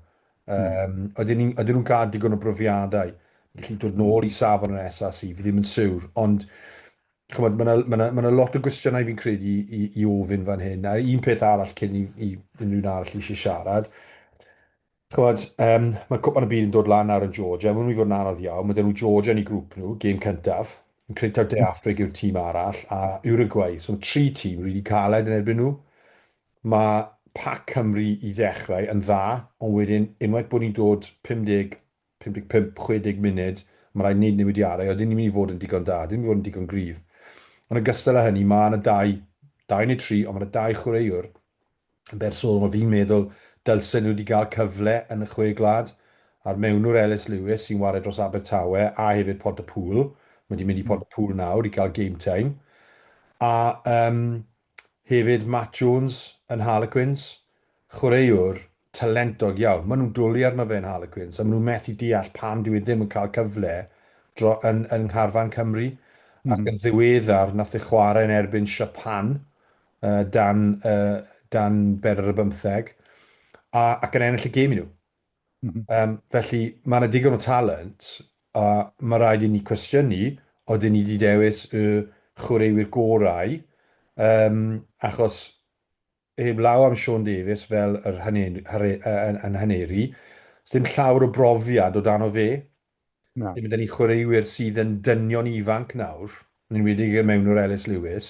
Um, oedden nhw'n cael digon o brofiadau. Ni'n gallu dod nôl i safon yn SRC, fi ddim yn siwr, ond chymod, mae yna, mae yna, mae yna lot o gwestiynau fi'n credu i, i, i ofyn fan hyn, a un peth arall cyn i, i unrhyw'n arall eisiau siarad, chymod, um, mae cwpan y byd yn dod lan ar yn Georgia, mae'n mynd i fod yn anodd iawn, mae dyn nhw Georgia yn ei grŵp nhw, gêm cyntaf, yn credu taw De Afrig yw'r tîm arall, a Uruguay, so mae tri tîm rili caled yn erbyn nhw. Mae pac Cymru i ddechrau yn dda, ond wedyn unwaith bod ni'n dod 50 55, 60 munud, mae'n rhaid wneud newidiadau, odyn ni'n mynd i fod yn digon da, odyn ni'n mynd i fod yn digon gryf. Yn ogystal â hynny, mae yna dau, dau neu tri, ond mae yna dau chwaraewr yn bersonol mae fi'n meddwl dylsen nhw wedi cael cyfle yn y Chwe Gwlad, a'r mewnwr Ellis Lewis sy'n ware dros Abertawe a hefyd Pontypŵl, mae 'di mynd i Pontypŵl nawr i gael game time, a yym Hefyd Matt Jones yn Harlequins, chwaraewr talentog iawn. Maen nhw'n dwlu arno fe yn Harlequins a maen nhw'n methu deall pam dyw e ddim yn cael cyfle dro, yn, yn ngharfan Cymru. Mm. Ac yn ddiweddar, nath e chwarae yn erbyn Siapan uh, dan, uh, dan bedr ar y bymtheg, a, ac yn ennill y gêm i nhw. Yym, felly, mae yna digon o talent, a mae rhaid i ni cwestiynu odyn ni wedi dewis y chwaraewyr gorau, yym, achos heb law am Sean Davies fel yr haneri, 'sdim llawr o brofiad o dan o fe, Na. Ni'n mynd â'n chwaraewyr sydd yn dynion ifanc nawr, yn enwedig o mewn yr Ellis Lewis,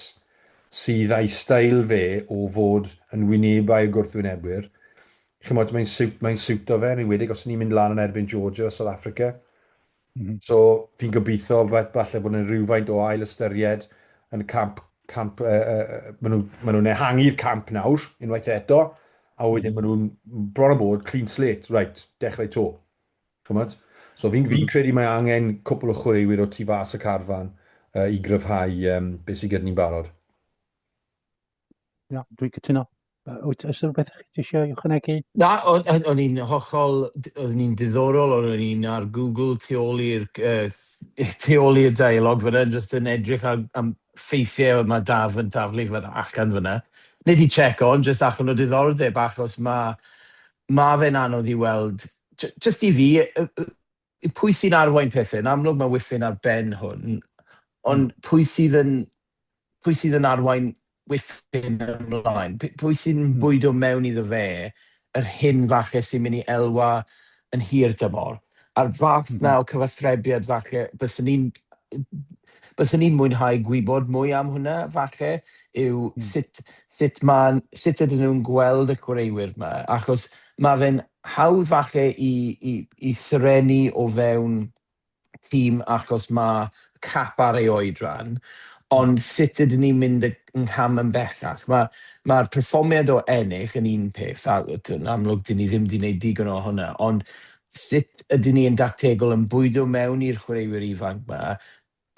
sydd â'i steil fe o fod yn wynebau y gwrthwynebwyr. Chimod, mae'n siwt, mae'n siwto fe, yn enwedig os ni'n mynd lan yn erbyn Georgia o South Africa. Mm -hmm. So, fi'n gobeithio beth falle bod yna rhywfaint o ail ystyried yn y camp, camp uh, uh, maen nhw'n ma nhw ehangu'r camp nawr, unwaith eto, a wedyn maen nhw'n bron o bod clean slate, right, dechrau to. Ch'mod? So fi'n fi'n credu mae angen cwpwl o chwaraewyr o tu fas y carfan yy i gryfhau yym be' sy gyda ni'n barod. Ia, dwi'n cytuno. Yy wyt oes 'na rwbeth chi tisio i ychwanegu? Na, o'n i'n hollol, oeddwn i'n diddorol, o'n i'n ar Google tu ôl i'r yy tu ôl i'r dialog fynna, jyst yn edrych ar am ffeithiau mae Daf yn taflu fynna allan fynna. Nid i check on, jyst allan o diddordeb, achos ma' Ma' fe'n anodd i weld, j- jyst i fi, y- y- y- pwy sy'n arwain pethe. Yn amlwg ma' Wifyn ar ben hwn, ond pwy sydd yn pwy sydd yn arwain Wifyn ymlaen? P- pwy sy'n bwydo mewn iddo fe yr hyn falle sy'n mynd i elwa yn hir dymor? a'r fath 'na o cyfathrebiad falle byswn i'n byswn i'n mwynhau gwybod mwy am hwnna falle yw sut sut ma'n sut ydyn nhw'n gweld y chwaraewyr 'ma achos ma' fe'n hawdd falle i i i serennu o fewn tîm achos ma' cap ar ei oedran ond sut ydyn ni'n mynd y ngham yn bellach ma' ma'r perfformiad o ennill yn un peth a t'wod yn amlwg 'dyn ni ddim 'di neud digon o hwnna ond Sut ydyn ni yn dactegol yn bwydo mewn i'r chwaraewyr ifanc 'ma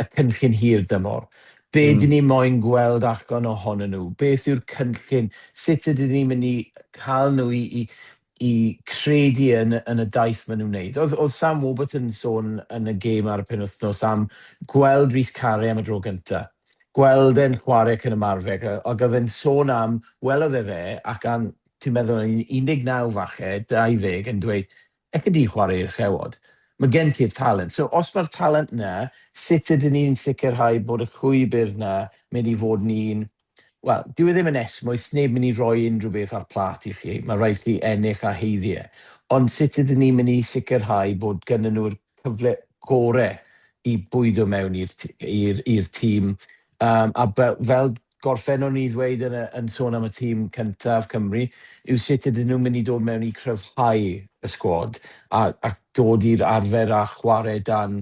y cynllun hir dymor? Be dyn ni moyn gweld allan ohonyn nhw? Beth yw'r cynllun? Sut ydyn ni'n mynd i cael nhw i credu yn y daith maen nhw'n wneud? Oedd Sam Warburton yn sôn yn y gêm ar y penwythnos am gweld Rhys Carre am y dro gyntaf, gweld e'n chwarae ac yn ymarfer ac oedd e'n sôn am, welodd e fe ac am Ti'n meddwl am 19 falle, 20 yn dweud, elli di chwarae i'r Llewod, mae gen ti'r talent. So os mae'r talent 'na, sut ydyn ni'n sicrhau bod y llwybr 'na mynd i fod yn un... Wel, dyw e ddim yn esmwyth, sneb mynd i roi unrhyw beth ar plât i chi, mae rhaid chi ennill a haeddu e. Ond sut ydyn ni'n mynd i sicrhau bod gynnyn nhw'r cyfle gore i bwydo mewn i'r i'r i'r tîm, yym, a be- fel gorffennwn i ddweud yn y yn sôn am y tîm cyntaf Cymru yw sut ydyn nhw'n mynd i dod mewn i cryfhau y sgwad a a dod i'r arfer a chwarae dan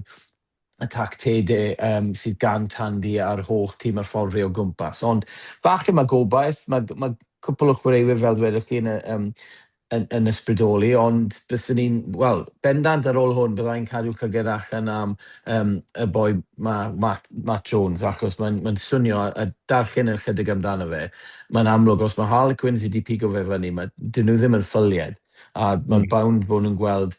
y tactege yym sydd gan Tandy a'r holl tîm a'r ffordd fe o gwmpas ond falle mae gobaith mae mae cwpwl o chwaraewyr fel ddwedwch chi yn y yym yn yn ysbrydoli ond byswn i'n wel bendant ar ôl hwn bydda i'n cadw llyged allan am yym y boi 'ma Matt Matt Jones achos mae'n mae'n swnio a darllen yn ychydig amdano fe mae'n amlwg os ma' Harlequins wedi pigo fe fyny ma' 'dyn nhw ddim yn ffylied a ma'n bound bo' nhw'n gweld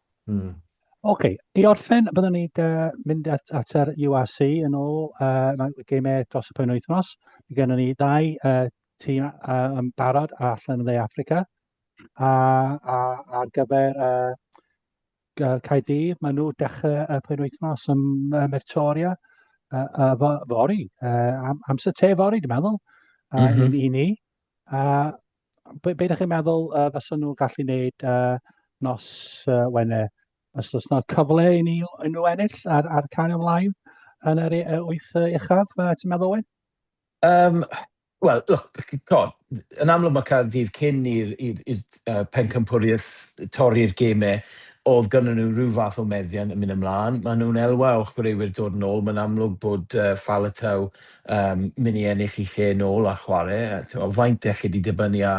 Mm. OK, i orffen, byddwn ni'n uh, mynd at, at yr UAC yn ôl uh, mae gemau dros y pen wythnos. Mae gennym ni ddau uh, tîm uh, yn barod allan yn dde Africa. A, a, ar gyfer uh, Caerdydd, maen nhw dechrau y pen wythnos yn uh, Mertoria uh, uh, fori, uh, am, amser te fori, dwi'n meddwl, uh, mm -hmm. i, i ni. A be, be ydych chi'n meddwl uh, fysa nhw'n gallu wneud uh, nos uh, Wener? Os oes yna cyfle i ni unrhyw ennill ar, ar cael ymlaen yn yr uh, wyth uh, uchaf, uh, ti'n meddwl Owen? Um, Wel, look, yn amlwg mae Caerdydd cyn i'r uh, pencampwriaeth torri'r gemau, oedd gynnyn nhw rhyw fath o meddiant yn mynd ymlaen. Mae nhw'n elwa o chwaraewyr dod yn ôl. Mae'n amlwg bod uh, Faletau um, mynd i ennill i lle nôl a chwarae. Faint elli di dibynnu a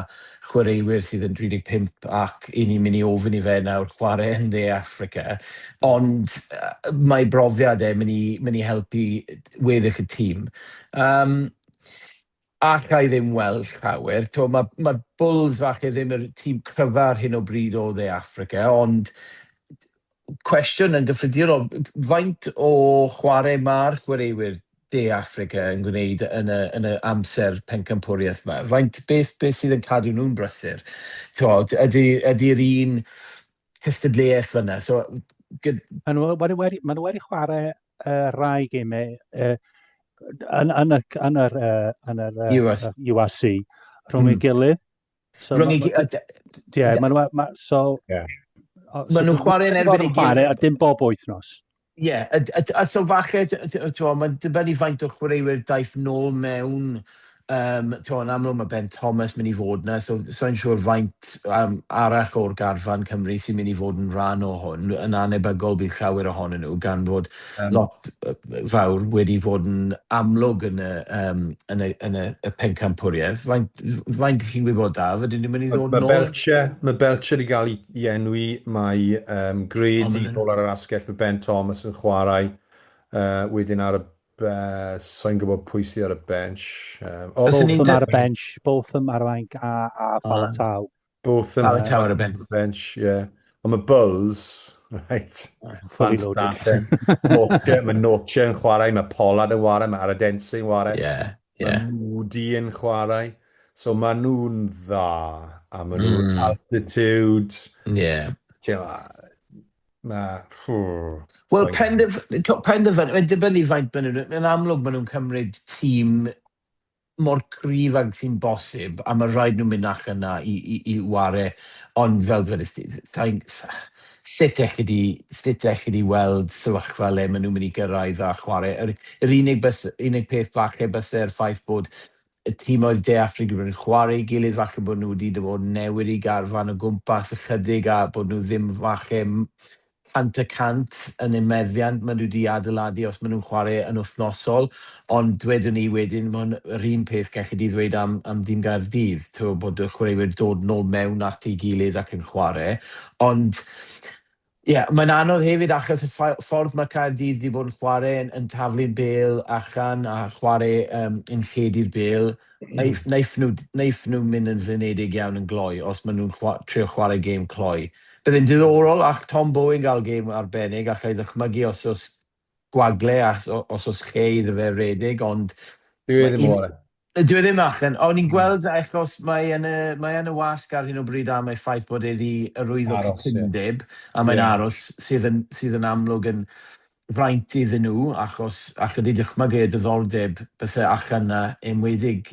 chwaraewyr sydd yn 35 ac i ni'n mynd i ofyn i fe nawr chwarae yn dde Africa. Ond uh, mae brofiad e mynd i, mynd i helpu weddill y tîm. Um, ac i ddim weld llawer. To, mae, mae Bulls falle ddim yr tîm cryfa ar hyn o bryd o dde Africa, ond cwestiwn yn gyffredinol, faint o chwarae mae'r chwaraewyr De Affrica yn gwneud yn y, yn y amser pencampwriaeth yma? Faint, beth, beth sydd yn cadw nhw'n brysur? Tywod, ydy, ydy'r un cystadleuaeth fyna? So, gyd... Mae nhw wedi, wedi, mae nhw wedi chwarae uh, rai gemau uh, yn, yn, y, yn yr, uh, yn yr uh, URC rhwng mm. ei gilydd. So, Rhwng i... Ie, maen nhw... So... Maen nhw'n chwarae yn erbyn i gyd. A dim bob wythnos. Ie, yeah, a, a, a so falle, mae'n dibynnu faint o chwaraewyr daeth nôl mewn, um, to, yn amlwg mae Ben Thomas mynd i fod yna, so so'n siŵr faint um, arall o'r garfan Cymru sy'n mynd i fod yn rhan o hwn, yn anebygol bydd llawer ohonyn nhw, gan fod lot fawr wedi fod yn amlwg yn y yym yn y yn y y pencampwriaeth. Faint f- faint chi'n gwybod Daf, ydyn ni'n mynd i ddod nôl? Mae Belcher, mae Belcher i gael i enwi, mae um, Grady yn ôl ar yr asgell, mae Ben Thomas yn chwarae uh, wedyn ar y uh, so'n gwybod pwy sydd ar y bench. Um, oh, both ar y bench, both them ar y bench a, a Falatau. Botham Alan Tower y bench. bench yeah. Ond mae Bulls, right, Fully loaded. mae Noche yn chwarae, mae Pollard yn chwarae, mae Aradense yn chwarae. Yeah, yeah. Mae Moody yn chwarae. So mae nhw'n dda, a mae nhw'n mm. altitude. Yeah. Mae... Wel, penderfynu, mae'n dibynnu faint maen nhw'n... Yn amlwg, maen nhw'n cymryd tîm mor cryf ag sy'n bosib, a mae rhaid nhw mynd ac yna i, i, i ware, ond fel dwedais di, sain, sut elli di, sut elli di weld sefyllfa le maen nhw'n mynd i gyrraedd a chwarae. Yr, yr unig, bys, unig peth falle byse'r ffaith bod y tîmoedd De Affrig wedi bod yn chwarae i gilydd, falle bod nhw wedi bod yn newid eu garfan o gwmpas ychydig a bod nhw ddim falle cant y cant yn eu meddiant maen nhw 'di adeiladu os maen nhw'n chwarae yn wythnosol, ond dwedwn i wedyn mae hwn yr un peth gelli di ddweud am am dîm Gaerdydd t'wo' bod y chwaraewyr dod nôl mewn at ei gilydd ac yn chwarae ond ie mae'n anodd hefyd achos y ffau- ffordd mae Caerdydd 'di bod yn chwarae yn yn taflu'r bêl allan a chwarae yym yn lledu'r bêl naiff naiff nhw d- naiff nhw mynd yn flinedig iawn yn gloi os maen nhw'n chwa- trio chwarae gêm cloi Bydd yn ddiddorol all Tom Bowen gael gêm arbennig, alla i ddychmygu os oes gwagle a os oes lle iddo fe redeg ond Dyw e ddim o'r un. Dyw e ddim allan. O'n i'n gweld achos mae yn y mae yn y wasg ar hyn o bryd am ei ffaith bod e 'di arwyddo cytundeb a mae'n aros sydd yn sydd yn amlwg yn fraint iddyn nhw achos alla di dychmygu y diddordeb byse allan 'na enwedig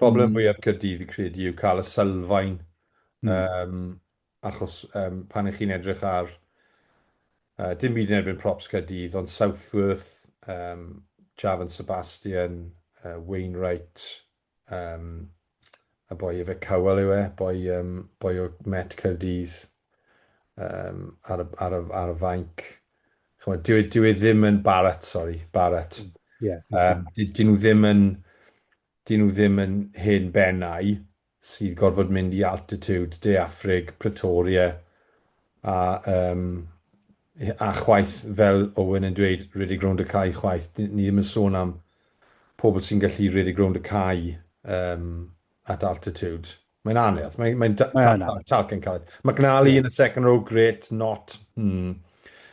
Problem fwyaf Caerdydd fi'n credu yw cael y sylfaen yym achos yym pan ych chi'n edrych ar yy dim byd yn erbyn props Caerdydd ond Southworth yym Javan Sebastian yy Wainwright yym y boi efe Cowell yw e boi yym boi o Met Caerdydd yym ar y ar y ar y fainc ch'mod, dyw e, dyw e ddim yn Barratt, sori, Barratt. Mm, ie. Yym, dy- 'dyn nhw ddim yn, 'dyn nhw ddim yn hen bennau sydd gorfod mynd i altitude De Affrig, Pretoria, a yym, a chwaith, fel Owen yn dweud, rhedeg rownd y cae chwaith. Ni ni ddim yn sôn am pobl sy'n gallu rhedeg rownd y cae um, at altitude. Mae'n anodd. Mae'n mae talcyn caled. McNally yeah. in the second row, great, not. Hmm.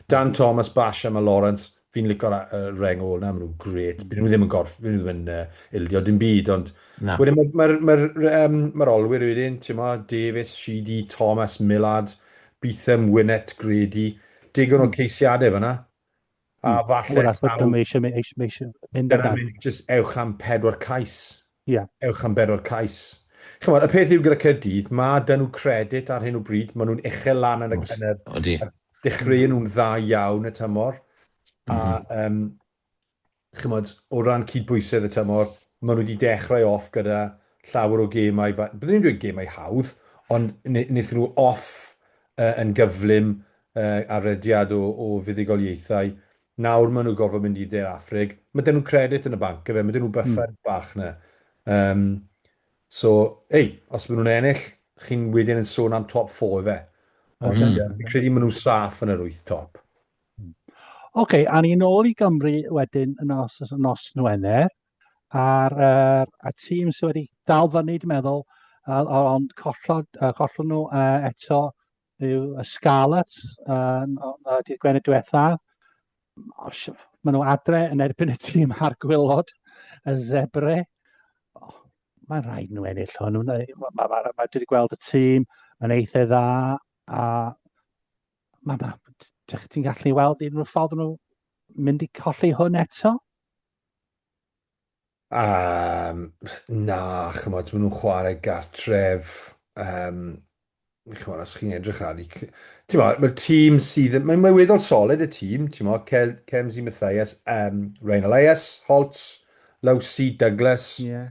Dan Thomas, Basham a Lawrence, fi'n licor uh, reng ôl na, maen nhw'n great. Byd nhw ddim yn gorff, byd nhw ddim yn uh, ildio dim byd, ond... Na. Wedyn mae'r ma, ma, ma, um, ma olwyr wedyn, ti'n ma, Davis, Sheedy, Thomas, Millard, Beetham, Winnet, Grady, digon o hmm. ceisiadau fyna. A hmm. falle... Wel, achos taw... mae eisiau, mae eisiau, mae eisiau mynd ar dan. Just ewch am pedwar cais. Ie. Yeah. Ewch am pedwar cais. Chymod, y peth yw gyda Cyrdydd, mae dyn nhw credit ar hyn o bryd, maen nhw'n uchel lan yn y gynnydd. Odi. Dechreu nhw'n dda iawn y tymor. Mm -hmm. A, um, mhm. chymod, o ran cydbwysedd y tymor, maen nhw wedi dechrau off gyda llawer o gemau, byddwn ni'n dweud gemau hawdd, ond wnaethon nhw off uh, yn gyflym a rhediad o o fuddugoliaethau. Nawr ma' nhw gorfod mynd i de'r Affrig. Ma' dyn nhw credit yn y banc yfe, ma' dyn nhw buffer bach na. Yym so ei, os ma' nhw'n ennill, chi'n wedyn yn sôn am top four yfe. Ond ie, fi'n credu ma' nhw'n saff yn yr wyth top. Ok, a ni nôl i Gymru wedyn yn nos, yn nos Nwener, a'r uh, a tîm sydd wedi dal fyny, dwi'n meddwl, uh, ond collod, uh, collon nhw uh, eto yw y Scarlets yn y dydd Gwener diwetha. Maen nhw adre yn erbyn y tîm a'r gwylod, y Zebre. Oh, mae'n rhaid nhw ennill hwn. Mae, ma, ma, ma, ma, dwi wedi gweld y tîm, mae'n eitha dda, a mae, ma, ti'n gallu weld un o'r ffordd nhw mynd i colli hwn eto. Yym, na, ch'mod, ma' nhw'n chwarae gartref, yym, ch'mod, os chi'n edrych ar 'u c-... Timod, mae'r tîm sydd yn... Mae'n weddol solid, y tîm, timod, Kel- Cemzy Mathias, yym, Ryan Elias, Holtz, Lowsey, Douglas... Ie.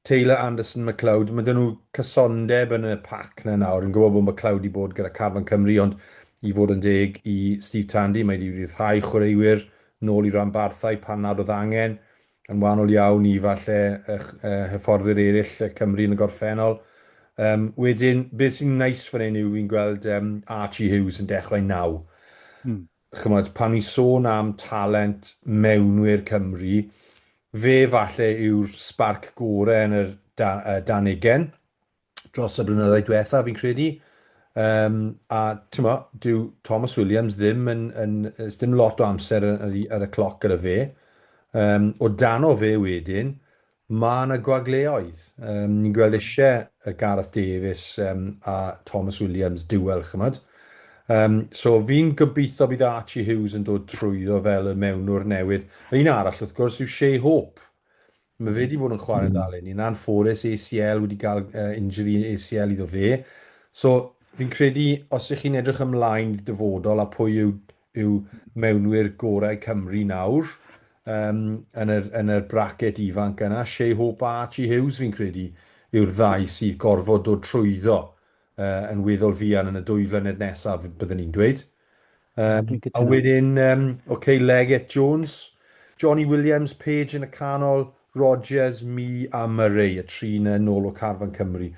...Taylor, Anderson, McLeod, ma' 'da nhw cysondeb yn y pac 'na nawr. Fi'n gwybod bod McLeod 'di bod gyda carfan Cymru, ond i fod yn deg i Steve Tandy, mae 'di ryddhau chwaraewyr nôl i ranbarthau pan nad oedd angen, yn wahanol iawn i falle hyfforddwyr eraill Cymru yn y gorffennol. Yym, wedyn, beth sy'n neis fan hyn yw fi'n gweld yym Archie Hughes yn dechrau naw. Mm. Chymod, pan ni'n sôn am talent mewnwyr Cymru, fe falle yw'r sbarc gore yn yr da, uh, dan ugen. dros y blynyddoedd diwetha, fi'n credu. Um, a ti'n mo, dyw Thomas Williams ddim yn, yn, yn ddim lot o amser ar, ar y cloc gyda fe. Um, o dan o fe wedyn, mae yna gwagleoedd. Um, ni'n gweld eisiau y Gareth Davies um, a Thomas Williams duel, chymod. Um, so fi'n gobeithio bydd Archie Hughes yn dod trwyddo fel y mewnwr newydd. Yr un arall, wrth gwrs, yw Shea Hope. Mae fe 'di bod yn chwarae dda eleni. Yn anffodus, ACL, wedi cael injury ACL iddo fe. So, fi'n credu, os ych chi'n edrych ymlaen i'r dyfodol a pwy yw yw mewnwyr gorau Cymru nawr, um, yn yr, yn yr bracket ifanc yna, Shea Hope a Archie Hughes, fi'n credu, yw'r ddau sydd gorfod dod trwyddo yn weddol fuan yn y dwy flynedd nesaf, byddwn i'n dweud. Um, Dwi'n cytuno. A wedyn, um, OK, Leggett, Jones, Johnny Williams, Page yn y canol, Rogers, Mi a Murray, y tri yna yn ôl o Carfan Cymru.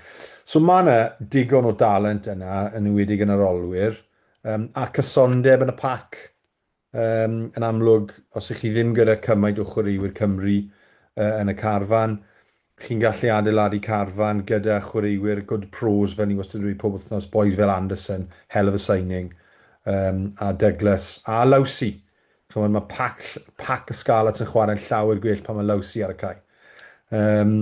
So mae yna digon o dalent yna, yn ymwedig yn yr olwyr, um, a cysondeb yn y pac. Yn amlwg, os ych chi ddim gyda cymaint o chwaraewyr Cymru yn y carfan, chi'n gallu adeiladu carfan gyda chwaraewyr good pros fel ni wastad yn dweud pob wythnos, bois fel Anderson, hell of a signing, a Douglas, a Lowsey. Chimod, mae pac, pac y Scarlets yn chwarae'n llawer gwell pan mae Lowsey ar y cae. Um,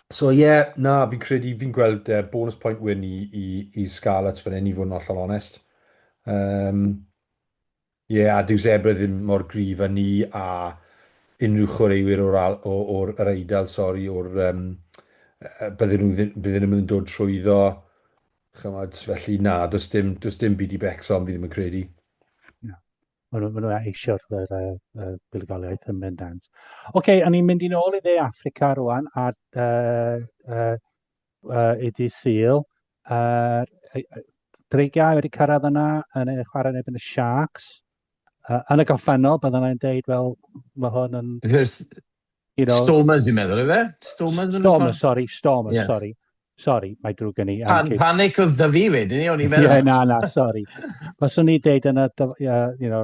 so ie, yeah, na, fi'n credu, fi'n gweld uh, bonus point win i, i, i Scarlets fan hyn i fod yn ollol onest. Um, Ie, a dyw Zebra ddim mor gryf â ni a unrhyw chwaraewyr o'r al- o- o'r yr Eidal, sori, o'r yym yy bydden nhw ddim bydden nhw ddim yn dod trwyddo, chimod, felly na, does dim does dim byd i Wrecsam fi ddim yn credu. Na. Maen nhw, maen nhw eisio'r yr, yy, yy, buddugoliaeth yn bendant. Ocê, o'n i'n mynd i'n ôl i dde Affrica rŵan a yy yy uh, i di syl. Uh, dreigiau wedi cyrraedd yna yn ei chwarae yn ebyn y Sharks. Uh, yn y goffennol, byddwn i'n deud, fel, mae hwn yn... You know, Stormers, i'n meddwl, efe? Stormers? Stormers, sorry, Stormers, yeah. sorry. Sorry, mae drwy gen i. Pan, panic oedd da fi wedyn ni, o'n i'n meddwl. Ie, na, na, sorry. Os o'n i deud yna, you know,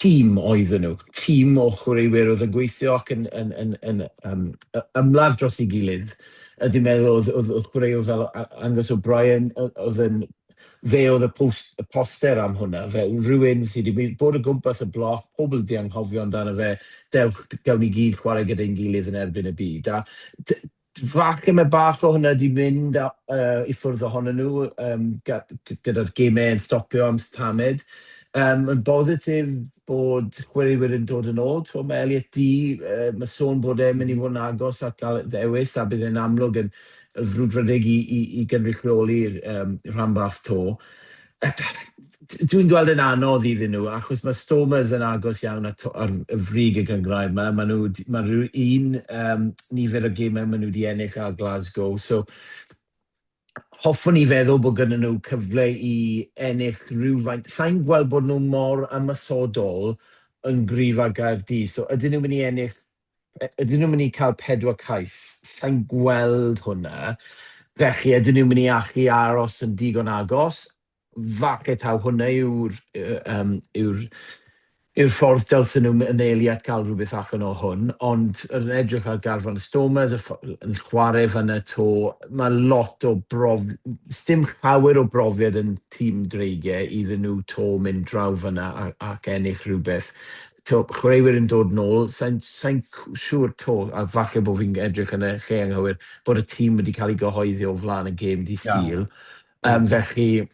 tîm oedden nhw, tîm o chwaraewyr oedd yn gweithio ac yn, yn, yn, yn um, ymladd dros ei gilydd. A dwi'n meddwl oedd, oedd, oedd chwaraewr fel Angus O'Brien, oedd yn, fe oedd y, post, y poster am hwnna, fe rhywun sydd wedi bod o gwmpas y bloc, pobl wedi anghofio amdano fe, dewch, gawn ni gyd chwarae gyda'n gilydd yn erbyn y byd. A Falle mae bach o hwnna 'di mynd i ffwrdd ohonyn nhw gyda'r gemau yn stopio am tamaid. Mae'n bositif bod chwaraewyr yn dod yn ôl. Tibod, mae Elliot Dee, mae sôn bod e'n mynd i fod yn agos at gael ddewis a bydd e'n amlwg yn frwdfrydig i gynrychioli'r rhanbarth 'to. Dwi'n gweld yn anodd iddyn nhw, achos mae Stormers yn agos iawn at ar y frig y gyngrair yma. Mae nhw, mae rhyw un um, nifer o gemau maen nhw wedi ennill ar Glasgow. So, hoffwn i feddwl bod gyda nhw cyfle i ennill rhywfaint. Sa'n gweld bod nhw mor ymasodol yn gryf ar Gaerdydd. So, ydyn nhw'n mynd i ennill Ydyn nhw'n mynd i cael pedwar cais? Sa i'n gweld hwnna. Felly, ydyn nhw'n mynd i allu aros yn digon agos? Falle taw hwnna yw'r um, yw'r yw'r ffordd dylsen nhw mynelu at gael rhywbeth allan o hwn, ond yn edrych ar garfan y Stormers yn chwarae fan y to, mae lot o brof... Sdim llawer o brofiad yn tîm dreigiau iddyn nhw to mynd draw fan yna ac ennill rhywbeth. Tibod, chwaraewyr yn dod nôl, sai'n sa siŵr 'to, a falle bod fi'n edrych yn y lle anghywir, bod y tîm wedi cael ei gyhoeddi o flaen y gêm di Sul. Yeah. Um, felly,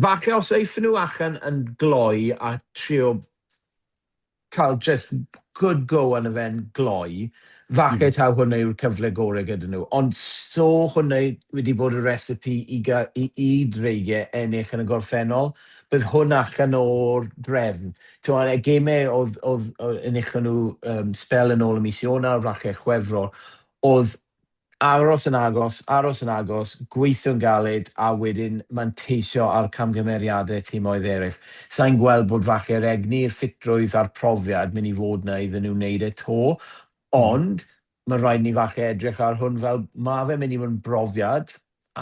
falle os eiffyn nhw allan yn gloi a trio cael jyst good go arno fe'n gloi, falle taw hwnna yw'r cyfle gorau gyda nhw. Ond 'so hwnna wedi bod y recipe i ga- i i Dreigiau ennill yn y gorffennol, bydd hwn allan o'r drefn. Timod, y gemau oedd oedd yy enillon nhw yym sbel yn ôl yn mis Ionawr, falle Chwefror, oedd Aros yn agos, aros yn agos, gweithio'n galed a wedyn manteisio ar camgymeriadau timoedd eraill. Sa i'n gweld bod falle'r egni, yr ffitrwydd a'r profiad mynd i fod 'na iddyn nhw wneud e 'to, ond ma' raid i ni falle edrych ar hwn fel ma' fe'n mynd i fod yn brofiad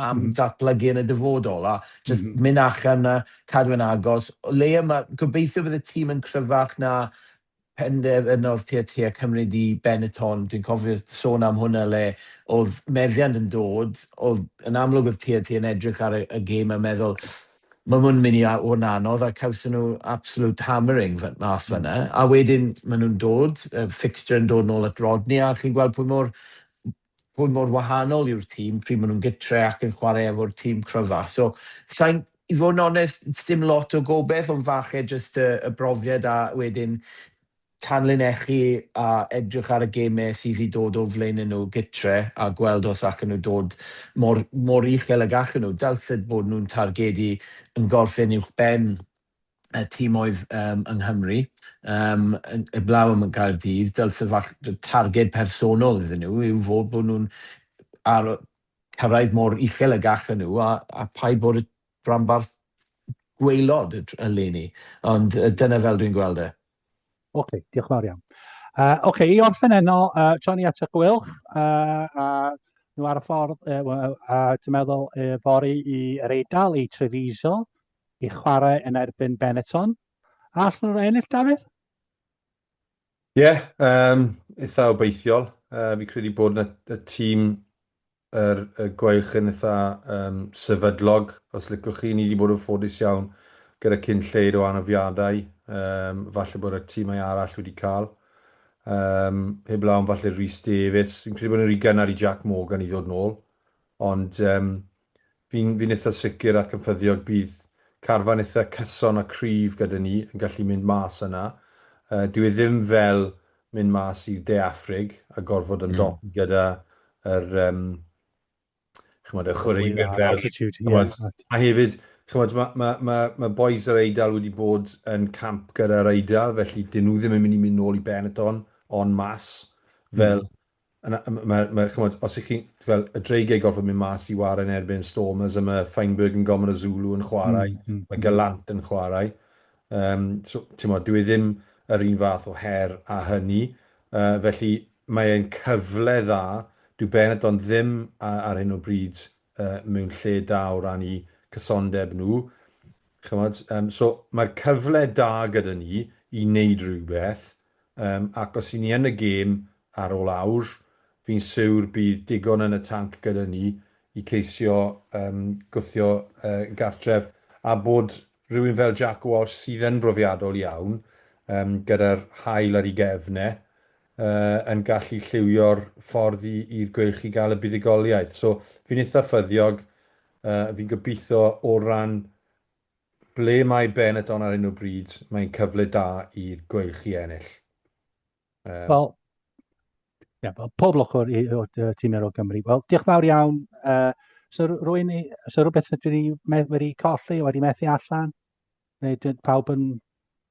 am ddatblygu yn y dyfodol a jyst mynd allan 'na, cadw yn agos. O leia ma'... gobeithio bydd y tîm yn cryfach na Penderfynodd Teatr Cymru Ddu Benetton, dwi'n cofio sôn am hwnna le oedd meddiant yn dod, oedd yn amlwg oedd TNT yn edrych ar y gêm a meddwl mae hwn yn mynd i fod yn anodd a cawson nhw absolute hammering mas fan'na a wedyn maen nhw'n dod, y fixture yn dod nôl at Rodney a chi'n gweld pwy mor hwn mor wahanol yw'r tîm pryd maen nhw'n gytre ac yn chwarae efo'r tîm cryfa. So, sain, i fod yn onest, dim lot o gobeith, ond falle jyst y, y brofiad a wedyn tanlinellu a edrych ar y gemau sydd i dod o flaenau nhw gytre a gweld os allan nhw dod mor, mor uchel ag allan nhw. Dylsed bod nhw'n targedu yn gorffen uwchben y timoedd yng Nghymru, heblaw am Gaerdydd, dylse fach- y targed personol iddyn nhw yw fod bod nhw'n ar- cyrraedd mor uchel y gallen nhw a a phaid bod y rhanbarth gwaelod y tr- eleni. Ond yy dyna fel dwi'n gweld e. Ocê, diolch yn fawr iawn. Yy ocê, i orffen heno, yy tra ni at y Gweilch, yy a nhw ar y ffordd yy w- yy a dwi'n meddwl yy fory i yr Eidal, i Treviso, i chwarae yn erbyn Benetton. A allan nhw ennill, Dafydd? Ie, yeah, um, eitha obeithiol. Uh, fi credu bod na, y tîm yr, y gwaelch yn eitha um, sefydlog, os licwch chi. Ni wedi bod yn ffodus iawn gyda cyn lleid o anafiadau. Um, falle bod y tîmau arall wedi cael. Um, heb lawn falle Rhys Davies. Fi'n credu bod yn rhy gynnar i Jack Morgan i ddod nôl. Ond um, Fi'n fi'n itha sicr ac yn ffyddiog bydd carfan itha cyson a cryf gyda ni yn gallu mynd mas yna. Yy dyw e ddim fel mynd mas i De Affrig a gorfod ymdopi gyda yr yym ch'mod y chwaraewyr fel altitude ch'mod a hefyd ch'mod ma' ma' ma' ma' bois yr Eidal wedi bod yn camp gyda'r Eidal felly 'dyn nhw ddim yn mynd i mynd nôl i Benetton on masse fel yna ma' ma' ch'mod os 'ych chi'n fel y dreigiau gorfod mynd mas i ware yn erbyn Stormers a ma' Feinberg yn gormod o Zulu yn chwarae... Mm, mm. ...ma' Gallant yn chwarae yym so t'mod dyw e ddim yr un fath o her â hynny yy felly mae e'n cyfle dda, dyw Benetton ddim a- ar hyn o bryd yy mewn lle da o ran 'u cysondeb nhw ch'mod yym so mae'r cyfle da gyda ni i neud rywbeth Yym, ac os y'n ni yn y gêm ar ôl awr, fi'n siwr bydd digon yn y tanc gyda ni i ceisio yym gwthio yy gartref, a bod rywun fel Jack Walsh sydd yn brofiadol iawn yym gyda'r haul ar ei gefn e, yy yn gallu lliwio'r ffordd i i'r Gweilch i gael y buddugoliaeth. So fi'n itha' ffyddiog, yy fi'n gobeithio o ran Ble mae Benetton ar hyn o bryd? Mae'n cyfle da i'r Gweilch i ennill. Yym. Wel, ie, wel, pob lwc o'r i- o'r yy tîm erol Cymru. Wel, diolch fawr iawn. Yy, so r- rwy'n i, so rhywbeth dwi wedi me- wedi colli, wedi methu allan? Neu dwi- pawb yn